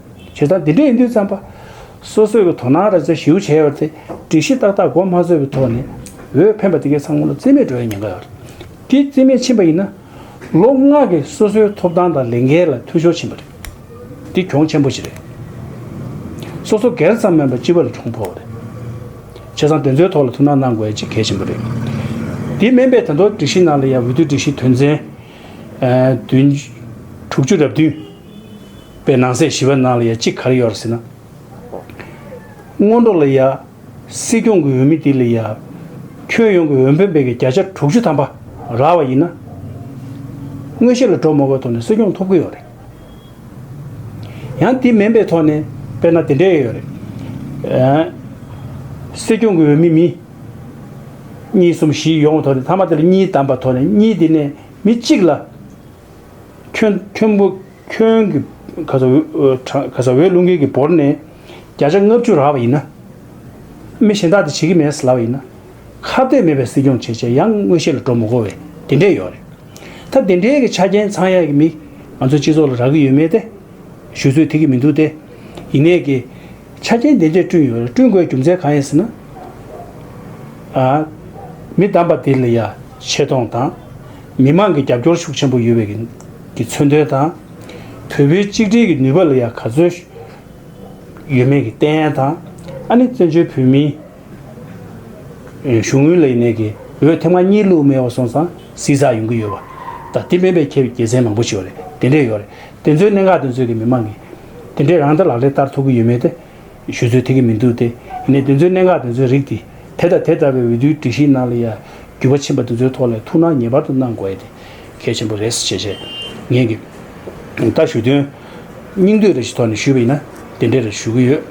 བྱེད་སྟངས་འདི་འདྲས་ཡིན་དུས་བརྩམས་པ། སོ་སོས་ཀྱི་དོ་སྣང་ར་བཟི་ཞིའུ་བྱས་ཡོད་པ་དེ་སྒྲིག་གཞི་ཏག་ཏག་གོ་མ་ཚོད་པའི་ཐོག་ནས་འོས་འཕེན་པ་དེ་གའི་ཚང་མ་ལ་རྩིས་མེད་འགྲོ་ཡ་ཉེན་ཁ་ཡོད། དེ་རྩིས་མེད་ཕྱིན་པ་ཡིན་ན། ལོ་ལྔ་གི་སོ་སོའི་ཐོབ་ཐང་དང་ལས་འགན་ལ་འཐུས་ཤོར་ཕྱིན་པ་རེད། འདི་གྱོང་ཆེན་པོ་ཞིག་རེད། སོ་སོ་སྒེར་ཙམ་མིན་པར་སྤྱི་བ་ལ་གྱོང་ཕོག་པ་རེད། བྱས་ཙང་དེ་ཚོའི་ཐོག་ལ་ཐུགས་སྣང་གནང་དགོས་ཡ་གཅིག་གལ་ཆེན་པོ་རེད། དེ་སྨན་པས་དང་ཐོག་སྒྲིག་གཞི་ནང་ལ་ཡ་འོས་བསྡུ་སྒྲིག་གཞི་དོན་ཚན། དྲུག་ཅུ་རབ་བདུན། པའི་ནང་གསེས་བཞི་པའི་ནང་ལ་ཡང་ཅི་གར་ཡོད་ར་ཟེར་ན། སྔོན་འགྲོ་ལ་ཡང། སྲིད་སྐྱོང་གི་འོས་མི་དེ་ལ་ཡང། ཁྱོན་ཡོངས་ཀྱི་འོས་འཕེན་སྤེལ་མཁན་བརྒྱ་ཆ་དྲུག་ཅུ་ཐམ་པ་རག་བ་ཡིན་ན། སྔོན་གཤེགས་ལ་གྲོས་མ་བགོས་ཐོག་ནས་སྲིད་སྐྱོང་ཐོབ་ཀྱི་ཡོད་རེད། ཡང་དེ་མིན་པའི་ཐོག་ནས་དཔེར་ན་དེ་འདྲས་ཡོད་རེད། སྲིད་སྐྱོང་གི་འོས་མི་མི། གཉིས་གསུམ་བཞི་ཡོང་བའི་ཐོག་ནས་མཐའ་མ་དེ་ལ་གཉིས་བདམས་པ་ཐོག་ནས་གཉིས་དེ་ནས་མི་གཅིག་ལ། ཁྱོད་བུ་ཁྱོད་ཀྱི་ག་ས་ག་ས་འོད་ལུང་ཁྱེད་ཀྱི་བོར་ནས་བརྒྱ་ཆ་ལྔ་བཅུ་རག་པ་ཡིན་ན། མི་གཞན་དག་དེ་བྱེད་ཀྱི་མེད་ཟེར་ལབ་པ་ཡིན་ན། ཁ་གཏད་མེད་པའི་སྲིད་སྐྱོང་བྱེད་བྱེད་ཡང་དངོས་གཞི་ལ་འགྲོ་མི་གོ་བས་དེ་འདྲས་ཡོད་རེད། ད་དེ་འདྲས་ཀྱི་ཆ་རྐྱེན་ཚང་ཡག་གི་མི་ང་ཚོའི་སྤྱི་ཚོགས་ལ་རག་གི་ཡོད་མེད་དེ་ཞུ་ཚོད་དེ་གི་མི་འདུག་སྟེ། ཡིན་ནས་ཀྱི། ཆ་རྐྱེན་དེ་འདྲས་བསྐྲུན་ཡོད་རེད་བསྐྲུན་དགོས་རྒྱུ་མཚན་གང་ཡིན་ཟེར་ན། མི་བདམས་པ་དེ་ལ་ཡ་ཆེ་གཏོང་དང། མི་དམངས་ཀྱི་རྒྱབ་སྐྱོར་ཤུགས་ཆེན་པོ་ཡོད་པའི་ཀྱི་མཚོན་དོན་དང། བོད་པོའི་གཅིག་སྒྲིལ་གྱི་ནུས་པ་ལ་ཡང་ག་ཚོད་ཡོད་མེད་ཀྱི་བསྟན་དང། ཨ་ནི་བཙན་བྱོལ་བོད་མིའི་གཞུང་དངུལ་ལ་ཡིན་ནའི་ཀྱི་འོས་ཐེངས་མ་གཉིས་བླུགས་མེད་བ་སོང་ཙང་བསིལ་ཚགས་ཡོང་གི་ཡོད་བ། ད་དེ་མེད་པའི་ཁྱད་རྒྱལ་མཚན་མང་པོ་ཞིག་ཡོད་རེད་དེ་འདྲས་ཡོད་རེད་དེ་ཚོའི་གནད་འགག་དེ་ཚོས་ཀྱི་མི་དམངས་ཀྱི་དེ་འདྲས་རང་ལྟ་ལག་ལེན་བསྟར་ཐུབ་ཀྱི་ཡོད་མེད་དེ། ཞུ་ཚོད་ཐིག་གི་མི་འདུག་སྟེ། ཡིན་ནས་དེ་ཚོའི་གནད་འགག་དེ་ཚོའི་རིགས་ཏེ། དེ་དང་དེ་ལྟ་བའི་འོས་བསྡུའི་སྒྲིག་གཞིའི་ནང་ལ་ཡང། རྒྱུས་པ་ཕྱིན་པ་དེ་ཚོའི་ཐོག་ལས་ཐུགས་སྣང་ངེས་པར་དུ་གནང་དགོས་ཨེ་དེ། གལ་ཆེན་པོ་རེད་ཟེར་བྱས་བྱས། ངེད་ཀྱི། ལྟ་ཞུ་དོན། སྙིང་འདོད་རེ་ཞིག་ཐོག་ནས་ཞུས་པ་ཡིན་ན། དེ་འདྲའི་རེ་ཞུ་གི་ཡོད།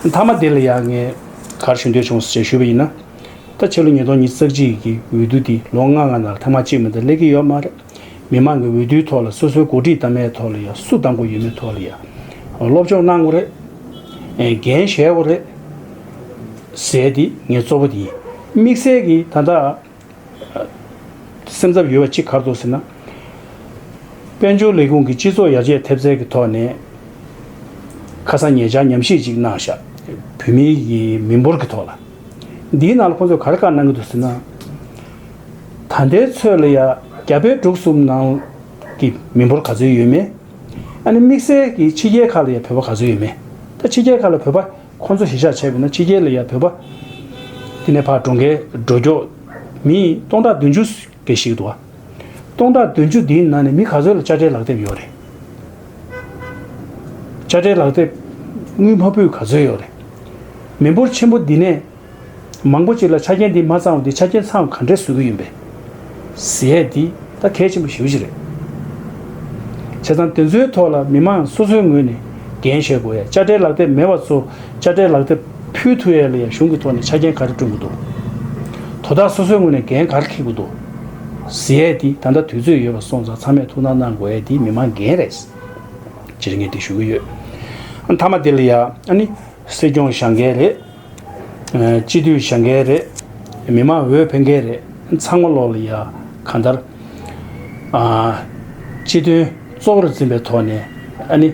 མཐའ་མ་དེ་ལ་ཡང་ངས། གར་ཞུ་འདོད་བྱུང་ཟེར་བྱས་ཞུས་པ་ཡིན་ན། ད་ཕྱི་ལོ་ཉིས་སྟོང་ཉིས་བརྩེགས་གཅིག་གི་འོས་བསྡུ་དེ་ལོ་ལྔ་ལྔ་ནང་ཐེངས་མ་གཅིག་མིན་ད་སླེབས་ཀྱི་ཡོད་མ་རེད། མི་མང་གི་འོས་བསྡུའི་ཐོག་ལ་སོ་སོའི་འགོ་ཁྲིད་གཏའ་མའི་ཐོག་ལ་ཡང་སུ་བདམས་དགོས་ཡོད་མེད་ཐོག་ལ་ཡང་སློབ་སྦྱོང་གནང་དགོས་རེད། འགན་བཞེས་དགོས་རེད། ཟེར་དེ་ངས་གཙོ་བོ་དེ་ཡིན། དམིགས་བསལ་གྱི་ད་ལྟ་སེམས་འཚབ་ཡོད་པ་གཅིག་གར་འདུག་ཟེར་ན། དཔལ་འབྱོར་ལས་ཁུངས་ཀྱི་སྤྱི་ཚོགས་ཡར་རྒྱས་ཐེབས་རྩལ་གྱི་ཐོག་ནས་ཁ་སང་ངེད་ཅག་ཉམས་ཞིབ་ཅིག་གནང་ཤག་བོད་མིའི་མི་འབོར་གྱི་ཐོག་ལ། འདིའི་ནང་ལ་ཁོང་ཚོས་ག་རེ་བཀའ་གནང་གི་འདུག་ཟེར་ན། ད་ལྟའི་ཚོད་ལ་ཡ་རྒྱ་བལ་འབྲུག་གསུམ་ནང་གི་མི་འབོར་ག་ཚོད་ཡོད་མེད། ཨ་ནི་དམིགས་བསལ་གྱིས་ཕྱི་རྒྱལ་ཁག་ལ་ཡ་བོད་པ་ག་ཚོད་ཡོད་མེད། ད་ཕྱི་རྒྱལ་ཁག་ལ་བོད་པ་ཁོ་ཚོ་གཞིས་ཆགས་ཆེ་བས་ན་ཕྱི་རྒྱལ་ལ་ཡ་བོད་པ། དེ་ནས་ཕར་འགྲོ་འགའི་འགྲོ་འགྱོག་མི་སྟོང་ཕྲག་བདུན་ཅུ་འགའི་ཞིག་འདུག་ཨ། སྟོང་ཕྲག་བདུན་ཅུ་འདིའི་ནང་ནས་མི་ག་ཚོད་ལ་དཔྱ་ཁྲལ་ལག་དེབ་ཡོད་རེད། དཔྱ་ཁྲལ་ལག་དེབ་དངུལ་མ་བུ་ག་ཚོད་ཡོད་རེད། མི་འབོར་ཆེན་པོ་འདི་ནས། མང་པོ་ཅིག་ལ་ཆ་རྐྱེན་འདི་མ་ཚང་བ་འདི་ཆ་རྐྱེན་ཚང་བ་ག་འདྲས་བཟོ་གི་ཡིན་པས། ཟས་འདི་ད་གལ་ཆེན་པོ་ཞེ་བོ་ཞིག་རེད། བྱས་ཙང་དེ་ཚོའི་ཐོག་ལ་མི་མང་སོ་སོའི་ངོས་ནས་འགན་བཞེས་དགོས་ཡ་དཔྱ་ཁྲལ་ལག་དེབ་མེད་བ་ཚོ་དཔྱ་ཁྲལ་ལག་དེབ་ཕུལ་ཐུ་ཡ་ལ་ཡ་གཞུང་གི་ཐོག་ནས་ཆ་རྐྱེན་ག་རེ་བསྐྲུན་དགོས་འདུག་དོ་བདག་སོ་སོའི་ངོས་ནས་འགན་ག་རེ་འཁེལ་དགོས་འདུག་ཟས་འདི་ད་ལྟ་དུས་ཚོད་ཡོད་པ་སོང་ཙང་ཚང་མས་ཐུགས་སྣང་གནང་དགོས་ཡ་འདི་མི་མང་འགན་རེད། སྤྱིར་ངས་འདི་ཞུ་གི་ཡོད། མཐའ་མ་འདི་ལ་ཡ་ནི་སྲིད་སྐྱོང་ཞང་གལ་རེད། སྤྱི་འཐུས་བཞག་འགལ་རེད། མི་དམངས་འོས་འཕེན་འགལ་རེད། ཚང་མ་ལོག་ལ་ཡ། གང་ལྟར། སྤྱི་དོན་གཙོ་བོར་འཛིན་པའི་ཐོག་ནས། ཨ་ནི།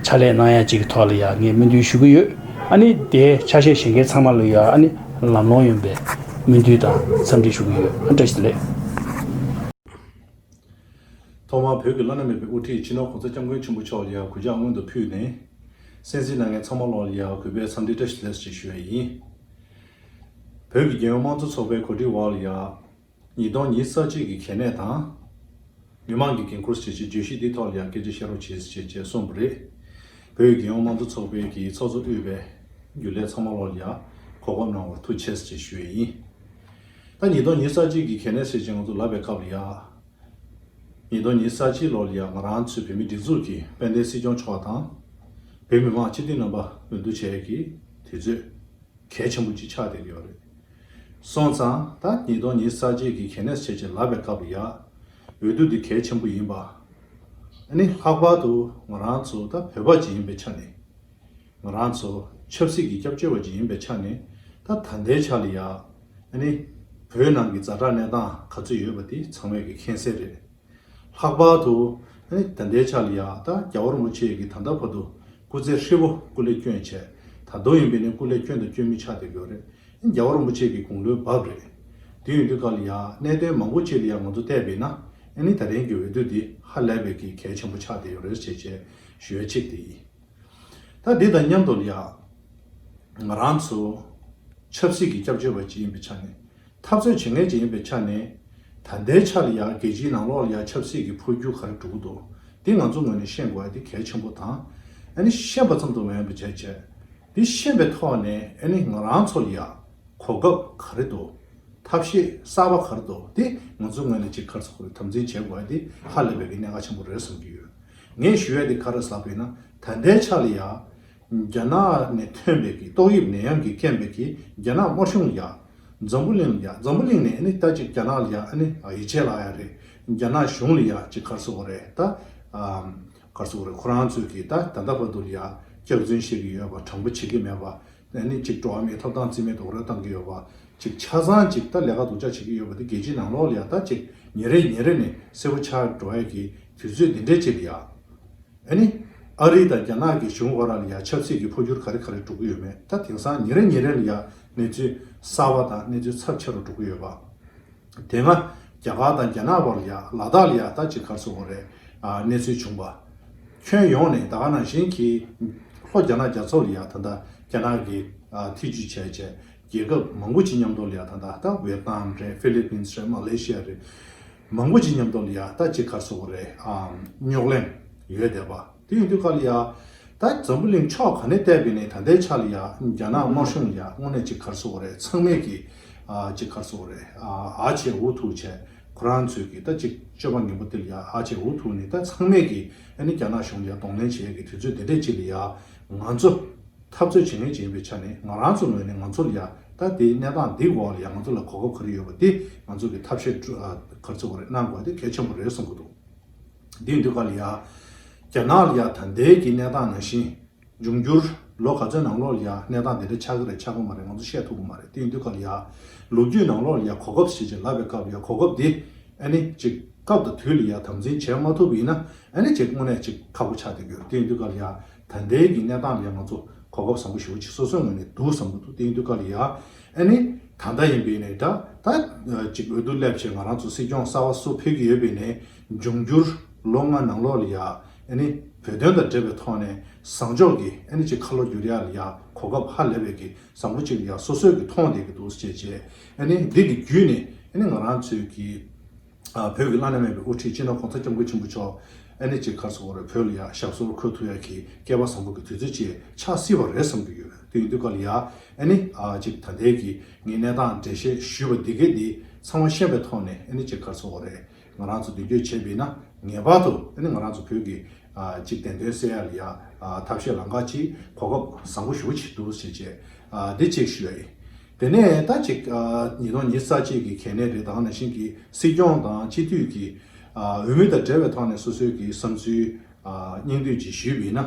ཕྱག་ལས་གནང་ཡ་གཅིག་གི་ཐོག་ལ་ཡ་ངས་སྨོན་འདུན་ཞུ་གི་ཡོད། ཨ་ནི། དེའི་ཆ་ཤས་བཞེངས་མཁན་ཚང་མ་ལ་ཡ་ཨ་ནི། ལམ་ལྷོང་ཡོན་པའི་སྨོན་འདུན་དང་འཚམས་འདྲི་ཞུ་གི་ཡོད། བཀྲ་ཤིས་བདེ་ལེགས།
ཐོག་མར་བོད་ཀྱི་བླ་ན་མེད་པའི་དབུ་ཁྲིད་སྤྱི་ནོར་གོང་ས་སྐྱབས་མགོན་ཆེན་པོ་མཆོག་ལ་ཡར་གུས་ཕྱག་སྔོན་དུ་ཕུལ་ནས། གསན་གཟིགས་གནང་མཁན་ཚང་མ་བློ་ལ་ཡར་གུས་པས་འཚམས་འདྲི་བཀྲ་ཤིས་བདེ་ལེགས་ཞུ་བ་ཡིན། བོད་ཀྱི་རྒྱལ་ཡོངས་དམངས་གཙོ་ཚོགས་པའི་གོ་སྒྲིག་འོག་ལ་ཡར། ཉིས་སྟོང་ཉིས་རྩ་གཅིག་གི་གལ་གནད་དང། མི་དམངས་ཀྱི་འགན་འཁུར་བྱེད་ཆེད་བརྗོད་གཞི་འདི་ཐོག་ལ་ཡར་སྐད་ཆ་བཤད་རོགས་བྱེད་ཅེས་བཅས་གསུངས་པ་རེད། བོད་ཀྱི་རྒྱལ་ཡོངས་དམངས་གཙོ་ཚོགས་པའི་གི་ཚོགས་གཙོ་དབུས་པའི་རྒྱུན་ལས་ཚང་མ་བློ་ལ་ཡར་གོ་བགོ་གནང་བར་ཐུགས་ཆེ་ཞེས་ཞུ་བ་ཡིན། ད་ཉིས་སྟོང་ཉིས་གསར་བརྗེའི་གི་གལ་གནད་ཟེར་ཅིང་ང་ཚོ་ལབ་པའི་སྐབས་ལ་ཡག། ཉིས་སྟོང་ཉིས་གསར་བརྗེའི་ལོ་ལ་ཡང་ང་རང་ཚོའི་བོད་མིའི་སྒྲིག་འཛུགས་ཀྱིས་དཔལ་ལྡན་སྲིད་སྐྱོང་མཆོག་དང། བོད་མི་མང་སྤྱི་འཐུས་རྣམ་པ་འོས་བསྡུ་བྱས་ཡོད་གི་དུས་ཚོད་གལ་ཆེན་པོ་གཅིག་ཆགས་བསྡད་ཀྱི་ཡོད་རེད། སོང་ཙང་ད་ཉིས་སྟོང་ཉིས་གསར་བརྗེའི་གི་གལ་གནད་ཟེར་ཅིང་ལབ་པའི་སྐབས་ལ་ཡག། འོས་བསྡུ་འདི་གལ་ཆེན་པོ་ཡིན་པ་ནི་ལྷག་པར་དུ་ང་རང་ཚོ་ད་བོད་པ་གཅིག་ཡིན་པའི་ཆ་ནས། ང་རང་ཚོ་ཆབ་སྲིད་ཀྱི་སྐྱབས་བཅོལ་བ་ཅིག་ཡིན་པའི་ཆ་ནས་ད་ད་ལྟའི་ཆར་ལ་ཡང། ནི། བོད་ནང་གི་རྫ་དྲག་གནས་སྟངས་ག་ཚོད་ཡོད་པ་དེ་ཚང་མས་ཀྱི་མཁྱེན་གསལ་རེད། ལྷག་པར་དུ། ནི་ད་ལྟའི་ཆར་ལ་ཡང་ད་རྒྱ་བོར་མོ་ཆེ་གི་ད་ལྟ་བར་དུ་སྐུ་ཚེ་ཧྲིལ་བོ་སྐུ་ལས་སྐྱོན་བྱས། ད་དུང་ཡིན་པས་ནི་སྐུ་ལས་སྐྱོན་དང་སྐྱོན་མི་ཆགས་དེ་གོ་རེད། ནི་རྒྱ་བོར་མོ་ཆེ་གི་དགུང་ལོའི་བབ་རེད། དེ་ཡོང་དུས་ཀ་ལ་ཡང་གནད་དོན་མང་པོ་ཅིག་ལ་ཡང་ང་ཚོ་བལྟས་པས་ན། ནི་ད་ཐེངས་ཀྱི་འོས་བསྡུ་འདི་ཧ་ལས་པའི་ཀྱི་གལ་ཆེན་པོ་ཆགས་དེ་ཡོ་རེད་བྱས་བྱས་ཞུ་ཡ་གཅིག་དེ་ཡིན།
ད་དེ་དང་མཉམ་དུ་ལ། ང་རང་ཚོ། ཆབ་སྲིད་ཀྱི་སྐྱབས་བཅོལ་བ་ཅིག་ཡིན་པའི་ཆ་ནས། འཐབ་རྩོད་བྱེད་མཁན་ཅིག་ཡིན་པའི་ཆ་ནས། ད་ལྟའི་ཆར་ཡང་རྒྱལ་སྤྱིའི་ནང་ལོགས་ལ་ཡང་ཆབ་སྲིད་ཀྱི་འཕོ་འགྱུར་ག་རེ་གྲུབ་འདུག་དེ་ང་ཚོ་ངོས་ནས་ཤེས་དགོས་པ་དེ་གལ་ཆེན་པོ་དང། ཨ་ནི་ཤེས་པ་ཙམ་དུ་མེད་པ་བྱས་བྱས། དེ་ཤེས་པའི་ཐོག་ནས་ཨ་ནི་ང་རང་ཚོར་ཡང། གོ་སྐབས་ག་རེ་འདུག་ཐབས་ཤེས་གསར་པ་ག་རེ་འདུག་དེ་ང་ཚོའི་ངོས་ནས་ཅིག་ཁར་ཚོགས་པ་རེ་དམ་འཛིན་བྱེད་དགོས་པ་དེ་ཧ་ལས་པའི་གི་གནད་འགག་ཆེན་པོ་རེད་བསམ་གྱི་ཡོད། ངས་ཞུ་ཡ་དེ་ག་རེ་ཟ་བས་ན་ད་ལྟའི་ཆ་ལ་ཡ། རྒྱ་ནག་ནས་ཐོན་པའི་གི་ཏོག་དབྱིབས་ནད་ཡམས་ཀྱི་རྐྱེན་པས་གི་རྒྱ་ནག་དམར་གཞུང་ཡ། འཛམ་བུ་གླིང་ལ་ཡ་འཛམ་བུ་གླིང་ནས་ཨ་ནི་ད་ཅིག་རྒྱ་ནག་ལ་ཡ་ཨ་ནི་ཡི་ཆད་ལ་ཡ་རེད་རྒྱ་ནག་གཞུང་ལ་ཡ་ཅིག་གར་སོ་གོ་རེ་ད། གར་སོ་གོ་རེ་ཁོ་རང་ཚོས་གི་ད་ད་ལྟ་བར་དུ་ལ་ཡ་སྐྱག་རྫུན་བཤད་གི་ཡོད་པ་དྲང་པོ་བྱེད་གི་མེད་པ་ཨ་ནི་ཅིག་འགྲོ་བ་མིའི་ཐོབ་ཐང་རྩིས་མེད་དུ་རོལ་བཏང་གི་ཡོད་པ་ཅིག་ཆ་ཚང་ཅིག་ད་ལས་ཀ་སྡུག་ཅག་བྱེད་གི་ཡོད་པ་དེ་རྒྱལ་སྤྱིའི་ནང་ལོག་ལ་ཡ་ད་ཅིག་ཉིན་རེ་ཉིན་རེ་ནས་གསལ་བོ་ཆགས་འགྲོ་བས་གི་དུས་ཚོད་འདི་འདྲའི་ཆེད་དུ་ཡག། ཨ་ནི། ཨ་རི་དང་རྒྱ་ནག་གི་གཞུང་བར་ལ་ཡང་ཆབ་སྲིད་ཀྱི་འཕོ་འགྱུར་ག་རེ་ག་རེ་འགྲོ་གི་ཡོད་མེད་ད་དེང་སང་ཉིན་རེ་ཉིན་རེ་ལ་ཡང་གནས་ཚུལ་གསར་བ་དང་གནས་ཚུལ་ཚབས་ཆེ་རུ་འགྲོ་གི་ཡོད་པ། དེ་སྔ་རྒྱ་གར་དང་རྒྱ་ནག་བར་ལ་ཡང་ལ་དྭགས་ལ་ཡང་ད་ཅིག་གར་སོང་བ་རེད་གནས་ཚུལ་བྱུང་པ། ཁྱོན་ཡོངས་ནས་ད་ག་ནང་བཞིན་གྱི་ལྷོ་རྒྱ་ནག་རྒྱ་མཚོ་ལ་ཡང་ད་ལྟ་རྒྱ་ནག་གི་ཐེ་ཇུས་བྱས་བྱས་རྒྱལ་ཁབ་མང་པོ་ཅིག་མཉམ་དུ་ལ་ཡང་ད་ལྟ་ད་བེར་ནཱམ་རེད་ཧྥི་ལི་པིན་རེད་མ་ལེ་ཤི་ཡ་རེད། མང་པོ་ཅིག་ཉམས་དོགས་ལ་ཡ་ད་ཅིག་ཁར་སོ་བོ་རེད་ཨང་རྙོག་གླེང་ཡོད་བསྡད་པ་དེ་ཡིན་དུས་ཁ་ལ་ཡ་ད་འཛམ་བུ་གླིང་ཕྱོགས་ག་ནས་བལྟས་པའི་ནས་ད་ལྟའི་ཆ་ལ་ཡ་རྒྱ་ནག་དམར་གཞུང་ལ་ཡ་དངོས་གནས་ཅིག་ཁར་སོ་བོ་རེད་ཚང་མས་ཀྱི་ཨ་ཅིག་ཁར་སོ་བོ་རེད་ཨ་ཅེ་འུ་ཐུག་བྱས་ཁོ་རང་ཚོས་ཀྱི་ད་ཅིག་སྤྱོད་པ་ངན་པོ་དེ་ལ་ཡ་ཨ་ཅེ་འུ་ཐུག་ནས་ད་ཚང་མས་ཀྱི་ཨ་ནི་རྒྱ་ནག་གཞུང་ལ་ཡ་གདོང་ལེན་བྱས་ཀྱི་དུས་ཚོད་དེ་འདྲས་ཅིག་ལ་ཡ་ང་ཚོ། འཐབ་རྩོད་བྱེད་མིན་བྱེད་པའི་ཆ་ནས་ང་རང་ཚོའི་ངོས་ནས་ང་ཚོ་ལ་ཡ་ད་དེའི་གནས་སྟངས་འདིའི་འོག་ལ་ཡང་ང་ཚོ་ལ་གོ་སྐབས་ག་རེ་ཡོད་པ་དེ་ང་ཚོ་གི་ཐབས་ཤེས་ག་ཚོད་ག་རེ་གནང་དགོས་དེ་གལ་ཆེན་པོ་རེད་གསུང་གི་འདུག་དེའི་འདུས་ཁ་ལ་ཡ། རྒྱ་ནག་ལ་ཡ་ད་དེའི་གི་གནས་སྟངས་ནང་བཞིན་འབྱུང་འགྱུར་ལོ་ག་ཚོད་ནང་ལོགས་ལ་ཡ་གནས་སྟངས་དེ་འདྲ་ཆགས་གི་རེད་ཆགས་གི་མ་རེད་ང་ཚོ་བཤད་ཐུབ་གི་མ་རེད་དེའི་འདུས་ཁ་ལ་ཡ། ལོ་རྒྱུས་ནང་ལོགས་ལ་ཡ་གོ་སྐབས་ཞེས་ཅིག་ལབ་པའི་སྐབས་ལ་ཡ་གོ་སྐབས་དེ་ཨ་ནི་ཅིག་སྐབས་དང་དུས་ལ་ཡ་དམ་འཛིན་བྱས་མ་ཐུབ་པ་ཡིན་ན་ཨ་ནི་ཅིག་དངོས་གནས་ཅིག་ཁག་པོ་ཆགས་བསྡད་ཀྱི་རེད་དེའི་འདུས་ཁ་ལ་ཡ། ད་ལྟའི་གི་གནས་སྟངས་ལས་ང་ཚོ་གོ་སྐབས་བཟང་པོ་ཞིག་འོ་ཅི་སོ་སོའི་ངོས་ནས་འདུག་བསམ་གྱི་འདུག་དེང་དུས་ཀ་ལི་ཡ་ཨེ་ནི་ད་ལྟ་ཡིན་པའི་ནས་དྲ་ད་ཅིག་འོས་བསྡུ་སླེབས་ཆེད་ང་རང་ཚོ་སྲིད་སྐྱོང་གསར་བ་བསུ་ཕོད་ཀྱི་ཡོད་པའི་ནས་འབྱུང་འགྱུར་ལོ་ལྔ་ནང་ལོ་ལི་ཡ་ཨེ་ནི་བོད་དོན་དང་འབྲེལ་བའི་ཐོག་ནས་བཟང་ཕྱོགས་ཀྱི་ཨེ་ནི་ཅིག་ཁ་ལོ་བསྒྱུར་ཡ་ལི་ཡ་གོ་སྐབས་ཧ་ལས་པའི་གི་བཟང་པོ་ཅིག་ལི་ཡ་སོ་སོས་གི་མཐོང་བསྡད་གི་འདུག་བྱས་རྗེས་ཨེ་ནི་འདི་གི་བརྒྱུད་ནས་ཨེ་ནི་ང་རང་ཚོའི་གི། བོད་ཀྱི་བླ་ན་མེད་པའི་དབུ་ཁྲིད་སྤྱི་ནོར་གོང་ས་སྐྱབས་མགོན་ཆེན་པོ་མཆོག་ཨ་ནེ་ཅི་གར་སོགས་བར་བོད་ལ་ཡ་ཞབས་སོར་འཁོད་ཐུབ་ཡ་གི་སྐལ་པ་བཟང་པོ་གི་དུས་ཚོད་ཅིག་ཆགས་སྲིད་པ་རེད་བསམ་གྱི་ཡོད་དུས་ཡིན་དུས་སྐབས་ལ་ཡ་ཨ་ནེ་ཅི་ད་ལྟའི་གི་ངའི་གནས་སྟངས་འགྲེལ་བཤད་ཞུས་པ་འདི་གའི་འདི་ཚང་མ་ཤེས་པའི་ཐོག་ནས་ཨ་ནེ་ཅི་གར་སོགས་བར་ང་རང་ཚོ་མདུན་སྐྱོད་བྱེད་པས་ན་ངེས་པར་དུ་ཨ་ནེ་ང་རང་ཚོ་བོད་ཀྱི་ཅིག་བདེན་དོན་གསལ་ཡ་ལ་ཡ་ཐབས་ཤེས་ལམ་ཁ་ཅིག་གོ་སྐབས་བཟང་པོ་ཞུ་གི་བྱེད་འདུག་བྱས་རྗེས་འདི་གཅིག་ཞུས་ཡ་ཨི་དེ་ནས་ད་ཅིག་ཉིས་སྟོང་ཉིས་རྩ་གཅིག་གི་གལ་གནད་དེ་དག་ནང་བཞིན་གྱི་སྲིད་སྐྱོང་དང་སྤྱི་འཐུས་ཀྱི་འོས་མི་དང་འབྲེལ་བའི་ཐོག་ནས་སོ་སོའི་གི་བསམ་ཚུལ་སྙིང་བསྡུས་ཀྱིས་ཞུས་པ་ཡིན་ན།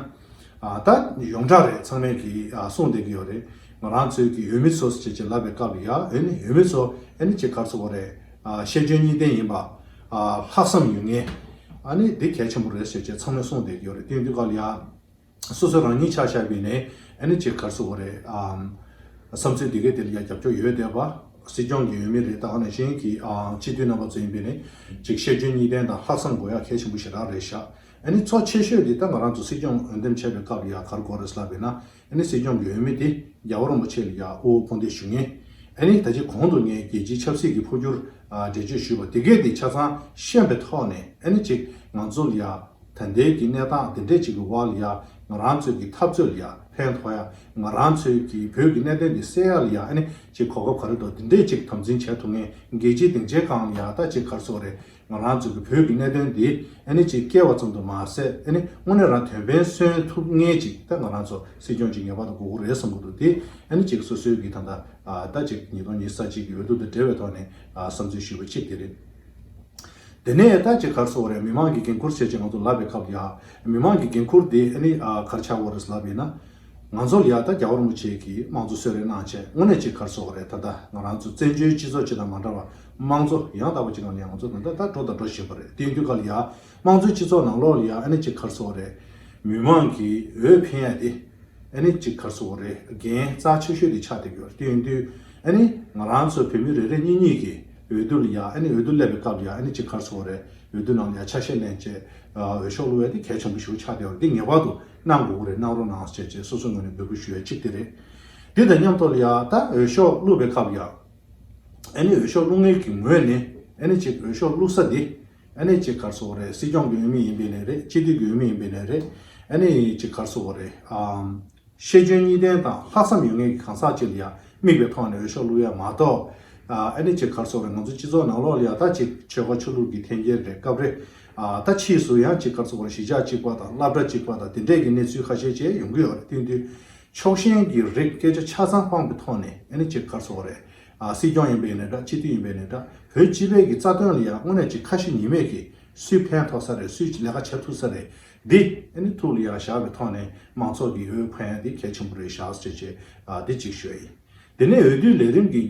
ད་ཡོངས་གྲགས་རེད་ཚང་མས་གི་གསུངས་བསྡད་ཀྱི་ཡོད་རེད། ང་རང་ཚོའི་གི་འོས་མི་ཚོ་ཟེར་བྱས་ཅེས་ལབ་པའི་སྐབས་ཡ་ཨེ་ནི་འོས་མི་ཚོ་ཨེ་ནི་ཅེས་སྐར་ཚོགས་རེད། བཤད་རྒྱུན་གཉིས་ལྡན་ཡིན་པ། ལྷག་བསམ་ཡོད་ངེས། ཨ་ནི་འདི་གལ་ཆེན་པོ་རེད་ཟེར་བྱས་ཚང་མས་གསུངས་བསྡད་ཀྱི་ཡོད་རེད་དེ་དུས་སྐབས་ཡ། སོ་སོ་རང་ཉིད་ཆ་བཞག་པའི་ནས་ཨནི་ཅེ་གར་སོ་བ་རེད་ཨང། བསམ་ཚུལ་འདི་གའི་དེ་ལ་ཡང་རྒྱབ་སྐྱོར་ཡོད་བསྡད་པ། སྲིད་སྐྱོང་གི་ཡོད་མེད་རེད་ད་ཨ་ནེ་ཞན་གྱི་སྤྱི་འཐུས་རྣམ་པ་ཚོ་ཡིན་པས་ནི་ཅིག་ཤེས་འཇོན་གཉིས་ལྡན་དང་ལྷག་བསམ་དགོས་ཡ་གལ་ཆེན་པོ་ཞེ་དྲག་རེད་ཤག་ཨནི་ཚོགས་ཆེ་ཤོས་དེ་ད་ང་རང་ཚོ་སྲིད་སྐྱོང་འོས་འདེམས་བྱས་པའི་སྐབས་ཡ་གར་དགོས་རེད་ལབ་པས་ན་ཨནི་སྲིད་སྐྱོང་གི་འོས་མི་དེ་རྒྱ་བ་རོང་པ་ཆེ་ལ་ཡ་དབུ་བོ་འཕོ་འདེད་ཞུ་ངེས་ཨནི་ད་ཅི་གོང་དུ་ངས་རྒྱལ་སྤྱིའི་ཆབ་སྲིད་ཀྱི་འཕོ་འགྱུར། འགྲེལ་བརྗོད་ཞུས་པ་དེ་གས་དེ་ཆ་ཚང་ཤེས་པའི་ཐོག་ནས་ཨེ་ནི་ཅིག་ང་ཚོ་ལ་ཡ་ད་འདས་ཀྱི་གནས་སྟངས་དེ་འདྲས་ཅིག་གི་དབར་ལ་ཡ་ང་རང་ཚོས་ཀྱི་འཐབ་རྩོད་ལ་ཡ་ཕན་ཐོག་ཡ་ང་རང་ཚོས་ཀྱི་བོད་ཀྱི་གནད་དོན་དེ་སེལ་ཡ་ལ་ཡ་ཨེ་ནི་ཅིག་གོ་སྐབས་ག་རེ་འདུག་དེ་འདྲས་ཅིག་དམ་འཛིན་བྱས་ཐུབ་ངེས་རྒྱལ་སྤྱིའི་སྡིངས་ཆའི་སྒང་ལ་ཡ་ད་ཅིག་གར་སོང་རེད་ང་རང་ཚོས་ཀྱི་བོད་ཀྱི་གནད་དོན་འདི་ཨེ་ནི་ཅིག་སྐྱེལ་བ་ཙམ་དུ་མ་ཟད་ཨེ་ནི་དངོས་གནས་རང་དོན་ཕན་སོན་ཐུབ་ངེས་ཅིག་ད་ང་རང་ཚོ་སྲིད་སྐྱོང་ཅིག་ངེས་པར་དུ་དགོས་མཁོ་རེད་བསམ་གྱི་འདུག་དེ་ཨེ་ནི་ཅིག་སོ་སོའི་གི་ད་ད་ཟླ་གཅིག་ཉིས་སྟོང་ཉིས་ས་གཅིག་གི་འོས་བསྡུ་དང་འབྲེལ་བའི་ཐོག་ནས་བསམ་ཚུལ་ཞུས་པ་གཅིག་དེ་རེད། དེ་ནས་ད་ཅི་གར་སོ་རེད་མི་མང་གི་འགན་ཁུར་བྱས་རྗེས་ང་ཚོ་ལབ་པའི་སྐབས་ཡ། མི་མང་གི་འགན་ཁུར་དེ་ནི་གར་ཆག་བོ་རེད་ལབ་ཡིན་ན། ང་ཚོར་ཡ་ད་རྒྱ་བོར་མོ་བྱས་ཀྱི་དམངས་གཙོ་གསོལ་རས་གནང་བྱས་དངོས་གནས་ཅི་གར་སོ་རེད་ད་ལྟ་ང་རང་ཚོ་བཙན་བྱོལ་སྤྱི་ཚོགས་སྤྱི་དང་མ་འདྲ་བ་དམངས་གཙོ་ཡང་དག་པ་ཅིག་ངང་ནས་ང་ཚོ་ད་ད་འགྲོ་དང་འགྲོ་བཞིན་པ་རེད་དེ་དུས་ཀ་ལ་ཡ། དམངས་གཙོའི་སྤྱི་ཚོགས་ནང་ལོགས་ལ་ཡང་ཨེ་ནི་ཅིག་ཁར་སོ་རེད། མི་དམངས་ཀྱིས་འོས་འཕེན་ཡ་དེ། ཨེ་ནི་ཅིག་ཁར་སོ་རེད་རྒན་རྩ་ཆེ་ཤོས་དེ་ཆགས་ཏེ་གྱུར་དེ་ཡིན་དུས། ཨེ་ནི། ང་རང་ཚོ་བོད་མི་རེ་རེ་གཉིས་གཉིས་ཀྱིས་འོས་བསྡུ་ལ་ཡ་ཨེ་ནི་འོས་བསྡུ་སླེབས་པའི་སྐབས་ལ་ཡ་ཨེ་ནི་ཅིག་ཁར་སོ་རེད་འོས་བསྡུ་ནང་ལ་ཡ་ཆ་ཤས་ལེན་བྱེད། འོས་ཤོག་བླུ་བ་དེ་གལ་ཆེན་པོ་ཞིག་ཆགས་བསྡད་ཡོད་རེད་འདི་ངེས་པར་དུ་གནང་དགོས་ཀྱི་རེད་གནང་རོགས་གནང་བྱེད་ཅེས་སོ་སོའི་ངོས་ནས་འབོད་སྐུལ་ཞུ་ཡ་གཅིག་དེ་རེད། དེ་དང་མཉམ་དུ་ལ་ཡ་ད་འོས་ཤོག་བླུ་བའི་སྐབས་ལ་ཡ་ཨེ་ནི་འོས་ཤོག་བླུ་མཁན་གྱི་ངོས་ནས་ཨེ་ནི་ཅིག་འོས་ཤོག་བླུ་ས་དེ། ཨ་ནེ་ཅི་གར་སོགས་རེད་སྲིད་སྐྱོང་གི་འོས་མི་ཡིན་པའི་ལས་རེད་སྤྱི་འཐུས་ཀྱི་འོས་མི་ཡིན་པའི་ལས་རེད་ཨ་ནེ་ཅི་གར་སོགས་རེད་ཨང། ཤེས་འཇོན་གཉིས་ལྡན་དང་ལྷག་བསམ་ཡོད་ངེས་ཀྱི་གང་ཟག་ཅིག་ལ་ཡ་དམིགས་པའི་ཐོག་ནས་འོས་ཤོག་བླུགས་ཡ་མ་གཏོགས། ཨ་ནེ་ཅི་གར་སོགས་རེད་ང་ཚོའི་སྤྱི་ཚོགས་ནང་ལོག་ལ་ཡ་ཐག་ཅིག་ཆོལ་ཁ་ཆོས་ལུགས་ཀྱི་འཐེན་འཁྱེར་རེད་སྐབས་རེ་ད་ཕྱིས་སུ་ཡང་ཅི་གར་སོགས་རེད་གཞིས་ཆགས་གཅིག་པ་དང་བླ་གྲྭ་གཅིག་པ་དང་དེ་འདྲས་ཀྱི་གནས་ཚུལ་ཁ་ཤས་བཅས་ཡོང་གི་ཡོད་རེད་བསྟུན་དུས་ཕྱོགས་ཞེན་གྱི་རིགས་སྐད་ཆ་ཆ་ཚང་སྤངས་པའི་ཐོག་ནས་ཨ་ནེ་ཅི་གར་སོགས་རེད། སྲིད་སྐྱོང་ཡིན་པའི་ནས་འདྲ་སྤྱི་འཐུས་ཡིན་པའི་ནས་འདྲ་བོད་སྤྱི་པའི་གི་རྩ་དོན་ལ་ཡང་དངོས་གནས་ཅིག་ཁ་ཞེ་གཉིས་མེད་ཀི་སུས་ཕན་ཐོག་ས་རེད་སུས་ལས་ཀ་བྱ་ཐུབ་ས་རེད་འདི་ནི་ཐུགས་ལ་ཡ་བཞག་པའི་ཐོག་ནས་མང་ཚོགས་ཀི་འོས་འཕེན་འདི་གལ་ཆེན་པོ་རེད་བཞག་ཟེར་བྱས་འདི་ཅིག་ཤོས་ཡིན་དེ་ནས་འོས་བསྡུའི་ལས་རིམ་གི་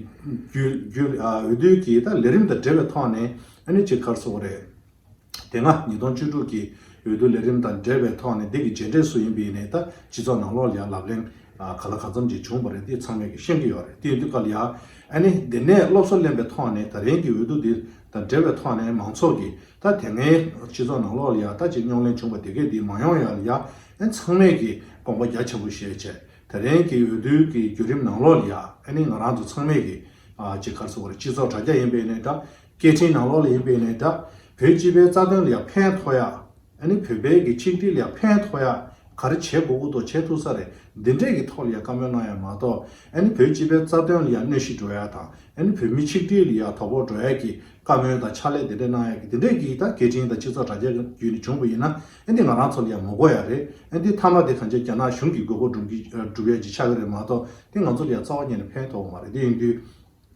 རྒྱུ་འོས་བསྡུའི་གི་ལས་རིམ་དང་འབྲེལ་བའི་ཐོག་ནས་ནི་ཅིག་ཁར་སོ་རེད། དེ་སྔ་ཉིས་སྟོང་བཅུ་དྲུག་གི་འོས་བསྡུ་ལས་རིམ་དང་འབྲེལ་བའི་ཐོག་ནས་འདི་གི་རྗེས་འབྲས་སུ་ཡིན་པའི་ནས་ད་སྤྱི་ཚོགས་ནང་ལོག་ལྷའི་ལབ་གླེང་ག་ལ་གང་འཚམ་ཅིག་བྱུང་བ་རེད་འདི་ཚང་མས་ཀྱི་ཤེས་ཀྱི་ཡོད་རེད་དེ་ཡིན་དུས་ག་ལ་ཡ་ཨ་ནི་འདི་ནས་སློབ་གསོ་ལེན་པའི་ཐོག་ནས་ད་རིང་གི་འོས་བསྡུ་འདི་དང་འབྲེལ་བའི་ཐོག་ནས་མང་ཚོགས་ཀྱི་ད་དེ་སྔའི་སྤྱི་ཚོགས་ནང་ལོག་ལ་ཡ་ད་ཅིག་རྙོག་གླེང་བྱུང་བ་དེ་གས་འདི་མ་ཡོང་ཡ་ལ་ཡ་ཨན་ཚང་མས་ཀྱི་དགོངས་པ་རྒྱ་ཆེན་པོ་བཞེས་ཆེད་ད་རིང་གི་འོས་བསྡུ་གི་བརྒྱུད་རིམ་ནང་ལོག་ལ་ཡ་ཨ་ནི་ང་རང་ཚོ་ཚང་མས་ཀྱི་ཅིག་གར་སོ་བར་སྤྱི་ཚོགས་དྲ་རྒྱ་ཡིན་པའི་ནས་ད་སྐད་འཕྲིན་ནང་ལོགས་ལ་ཡིན་པས་ནས་འདྲ། བོད་སྤྱི་པའི་རྩ་དོན་ལ་ཡང་ཕན་ཐོགས་ཡ། ནི་བོད་པའི་གི་ཆིག་སྒྲིལ་ལ་ཡང་ཕན་ཐོགས་ཡ། ག་རེ་བྱེད་དགོས་ཀུ་དོག་བྱེད་ཐུག་ས་རེད་འདི་འདྲས་གི་ཐོག་ལ་ཡང་བཀའ་མོལ་གནང་ཡ་མ་གཏོགས། ནི་བོད་སྤྱི་པའི་རྩ་དོན་ལ་ཡང་གནོད་གཞི་འགྲོ་ཡ་དང། ནི་བོད་མི་ཆིག་སྒྲིལ་ལ་ཡང་དོ་ཕོག་འགྲོ་ཡ་གི་བཀའ་མོལ་དང་ཕྱག་ལས་འདི་འདྲས་གནང་ཡ་གི་འདི་འདྲས་གི་ད་སྐད་འཕྲིན་དང་སྤྱི་ཚོགས་དྲ་རྒྱ་གི་བརྒྱུད་ནས་བྱུང་བ་ཡིན་ན། འདི་ང་རང་ཚོ་ལ་ཡང་མོ་གོ་ཡ་རེད། འདི་མཐའ་མ་འདི་གང་ཅག་རྒྱ་ནག་གཞུང་གི་དགོས་མཁོ་སྒྲུབ་ཀྱི་སྒྲུབ་ཡ་གི་ཆག་གི་རེད་མ་གཏོགས་འདི་ང་ཚོ་ལ་ཡང་རྩ་བ་ཉེ་ནས་ཕན་ཐོགས་བ་མ་རེད་དེ་ཡིན་དུས།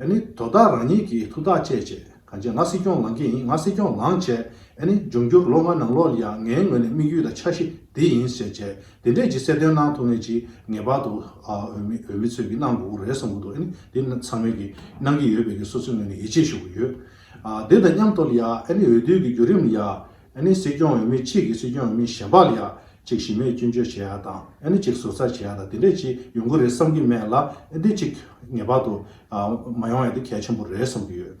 ཨེ་ནི་དོ་བདག་རང་ཉིད་ཀྱིས་ཐུགས་ཐག་བཅད་བྱས་གང་ཆེ་ང་སྲིད་སྐྱོང་ལང་གི་ཡིན་ང་སྲིད་སྐྱོང་ལང་བྱས་ཨེ་ནི་འབྱུང་འགྱུར་ལོ་ལྔ་ནང་ལོག་ལ་ཡང་ངའི་ངོས་ནས་དམིགས་ཡུལ་དང་འཆར་གཞི་འདི་ཡིན་ཟེར་བྱས་དེ་འདྲས་ཀྱི་གསལ་སྟོན་གནང་ཐུབ་མེད་ཅིག་ངེས་པར་དུ་འོས་མི་འོས་མི་ཚོས་ཀྱིས་གནང་དགོས་ཀྱི་རེད་བསམ་གྱི་འདུག་ཨེ་ནི་དེ་ཚང་མས་ཀྱིས་གནང་གི་ཡོད་པས་ཀྱི་སོ་སོའི་ངོས་ནས་ཡིད་ཆེས་ཞུ་གི་ཡོད་དེ་དང་མཉམ་དུ་ལ་ཡང་ཨེ་ནི་འོས་བསྡུའི་ཀྱི་བརྒྱུད་རིམ་ལ་ཡང་ཨ་ནི་སྲིད་སྐྱོང་འོས་མི་གཅིག་གིས་སྲིད་སྐྱོང་འོས་མི་གཞན་པ་ལ་ཡག་གཅིག་ཞིམ་མེད་སྐྱོན་བརྗོད་བྱེད་ཡག་དང་ཨ་ནི་གཅིག་ཟུར་ཟ་བྱེད་ཡག་དང་དེ་འདྲས་ཅིག་ཡོང་གི་རེད་བསམ་གྱི་མེད་ལ་ཨ་ནི་གཅིག་ངེས་པར་དུ་མ་ཡོང་ཡ་དེ་གལ་ཆེན་པོ་རེད་བསམ་གྱི་ཡོད།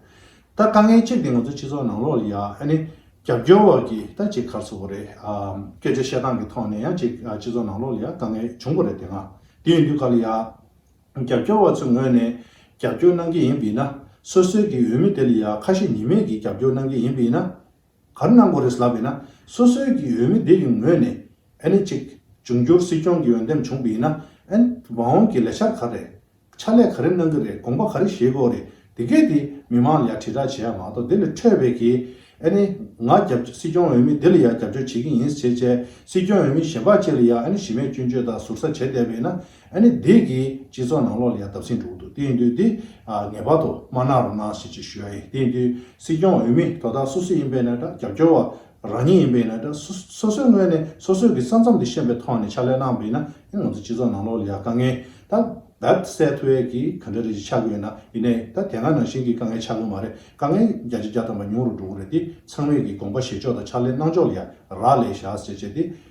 ད་དཀའ་ངལ་གཅིག་དེ་ང་ཚོ་སྤྱི་ཚོགས་ནང་ལོགས་ལ་ཡ་ཨ་ནི་རྒྱབ་སྐྱོར་བ་གི་ད་གཅིག་གར་སོང་བ་རེད་སྐད་ཆ་བཤད་སྟངས་གི་ཐོག་ནས་ཡ་གཅིག་སྤྱི་ཚོགས་ནང་ལོགས་ལ་ཡ་དཀའ་ངལ་བྱུང་བ་རེད་དེ་སྔ་དེ་ཡོང་དུས་ག་ལ་ཡ་རྒྱབ་སྐྱོར་བ་ཚོའི་ངོས་ནས་རྒྱབ་སྐྱོར་གནང་གི་ཡིན་པིན་ན་སོ་སོའི་གི་འོས་མི་དེ་ལ་ཡ་ཁ་ཞེ་གཉིས་མེད་གི་རྒྱབ་སྐྱོར་གནང་གི་ཡིན་པིན་ན། གར་གནང་དགོས་རེད་ལབ་ཡོད་ན་སོ་སོའི་གི་འོས་མི་དེ་ཡི་ངོས་ནས་ཨེ་ནི་གཅིག་འབྱུང་འགྱུར་སྲིད་སྐྱོང་གི་འོས་འདེམས་བྱུང་པའི་ཡིན་ན་ཨེ་ནི་བ་འོང་གི་ལས་འཆར་ག་རེ་རེད་ཕྱག་ལས་ག་རེ་གནང་གི་རེད་དགོངས་པ་ག་རེ་བཞེས་དགོས་རེད་དེ་སྐད་དེ་མི་མང་ལ་ཡང་དྲིལ་བསྒྲགས་བྱས་ཡ་མ་གཏོགས་དེ་ལས་འཕྲོས་པའི་གི་ཨེ་ནི་ང་རྒྱབ་སྲིད་སྐྱོང་འོས་མི་དེ་ལ་ཡང་རྒྱབ་སྐྱོར་བྱེད་གི་ཡིན་ཟེར་བྱས་སྲིད་སྐྱོང་འོས་མི་གཞན་པ་བཅས་ལ་ཡང་ཨེ་ནི་གཞི་མེད་སྐྱོན་བརྗོད་དང་ཟུར་ཟ་བྱས་བསྡད་པ་ཡིན་ན་ཨ་ནི་བདེ་གི་སྤྱི་ཚོགས་ནང་ལོག་ལ་ཡ་འདབ་སིང་འབྲུག་འདུག་དེ་ཡིན་དུས་དེ་ངེས་པར་དུ་དམར་ནག་རུ་ནག་ཞིག་ཅིག་ཞུ་ཡ་ཡིན་དེ་ཡིན་དུས་སྲིད་སྐྱོང་འོས་མི་དོ་བདག་སོ་སོས་ཡིན་པས་ན་འདྲ་རྒྱབ་སྐྱོར་བ་རང་ཉིད་ཡིན་པས་ན་འདྲ་སོ་སོའི་ངོས་ནས་སོ་སོའི་གི་ས་མཚམས་དེ་ཤེས་པའི་ཐོག་ནས་ཕྱག་ལས་གནང་བས་ན་ཡང་ང་ཚོ་སྤྱི་ཚོགས་ནང་ལོག་ལ་ཡ་དཀའ་ངལ་ད་བབས་སད་ཐུ་བས་གི་ག་འདྲ་རེ་ཅིག་ཆགས་གི་ཡོད་ན་ཡིན་ནའི་ད་དེ་སྔ་ནང་བཞིན་གི་དཀའ་ངལ་ཆགས་གི་མ་རེད་དཀའ་ངལ་བརྒྱ་ཆ་བརྒྱ་ཐམ་པ་ཉུང་རུ་འགྲོ་གི་རེད་དེ་ཚང་མས་གི་དགོངས་པ་བཞེས་ཕྱོགས་དང་ཕྱག་ལས་གནང་ཕྱོགས་ལ་ཡ་རག་ལས་བཞག་ཟེར་བྱས་དེ་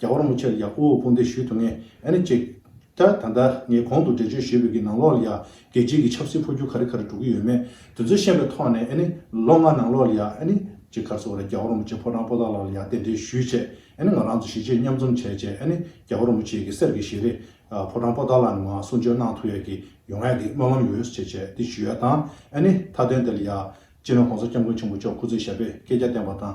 རྒྱ་གར་མོ་ཆེར་ཡག་པོ་དཔུང་འདེགས་ཞུས་ཐུབ་ངེས་ཨེ་རེད་ཅེས། ད་ལྟ་ངས་གོང་དུ་འགྲེལ་བརྗོད་ཞུས་པའི་གི་ནང་ལོགས་ལ་ཡང་རྒྱལ་སྤྱིའི་གི་ཆབ་སྲིད་འཕོ་འགྱུར་ག་རེ་ག་རེ་འགྲོ་གི་ཡོད་མེད་དེ་ཚོ་ཤེས་པའི་ཐོག་ནས་ཨེ་ནི་ལོ་ལྔ་ནང་ལོགས་ལ་ཡང་ཨེ་ནི་ཅེས་གར་སོ་རེད་རྒྱ་གར་མོ་ཆེ་ཕོ་བྲང་པོ་ཏཱ་ལགས་ལ་ཡང་རྟེན་འབྲེལ་ཞུས་ཆེད་ཨེ་ནི་ང་རང་ཚོ་གཞིས་བྱེས་མཉམ་འཛོམས་བྱས་ཆེད་ཨེ་ནི་རྒྱ་གར་མོ་ཆེའི་གི་གསེར་གི་ཞལ་རས་ཕོ་བྲང་པོ་ཏཱ་ལགས་ནས་ང་གསུང་ཆོས་གནང་ཐུབ་ཡག་གི་ཡོང་ངེས་གི་སྨོན་ལམ་ཡོད་ཅེས་བྱས་ཏེ་ཞུས་ཡ་དང་ཨེ་ནི་མཐའ་དོན་དེ་ལ་ཡང་སྤྱིར་ན་གོང་ས་སྐྱབས་མགོན་ཆེན་པོ་མཆོག་སྐུ་ཚེ་ཞབས་པས་སྐད་ཆ་བསྟན་པ་དང།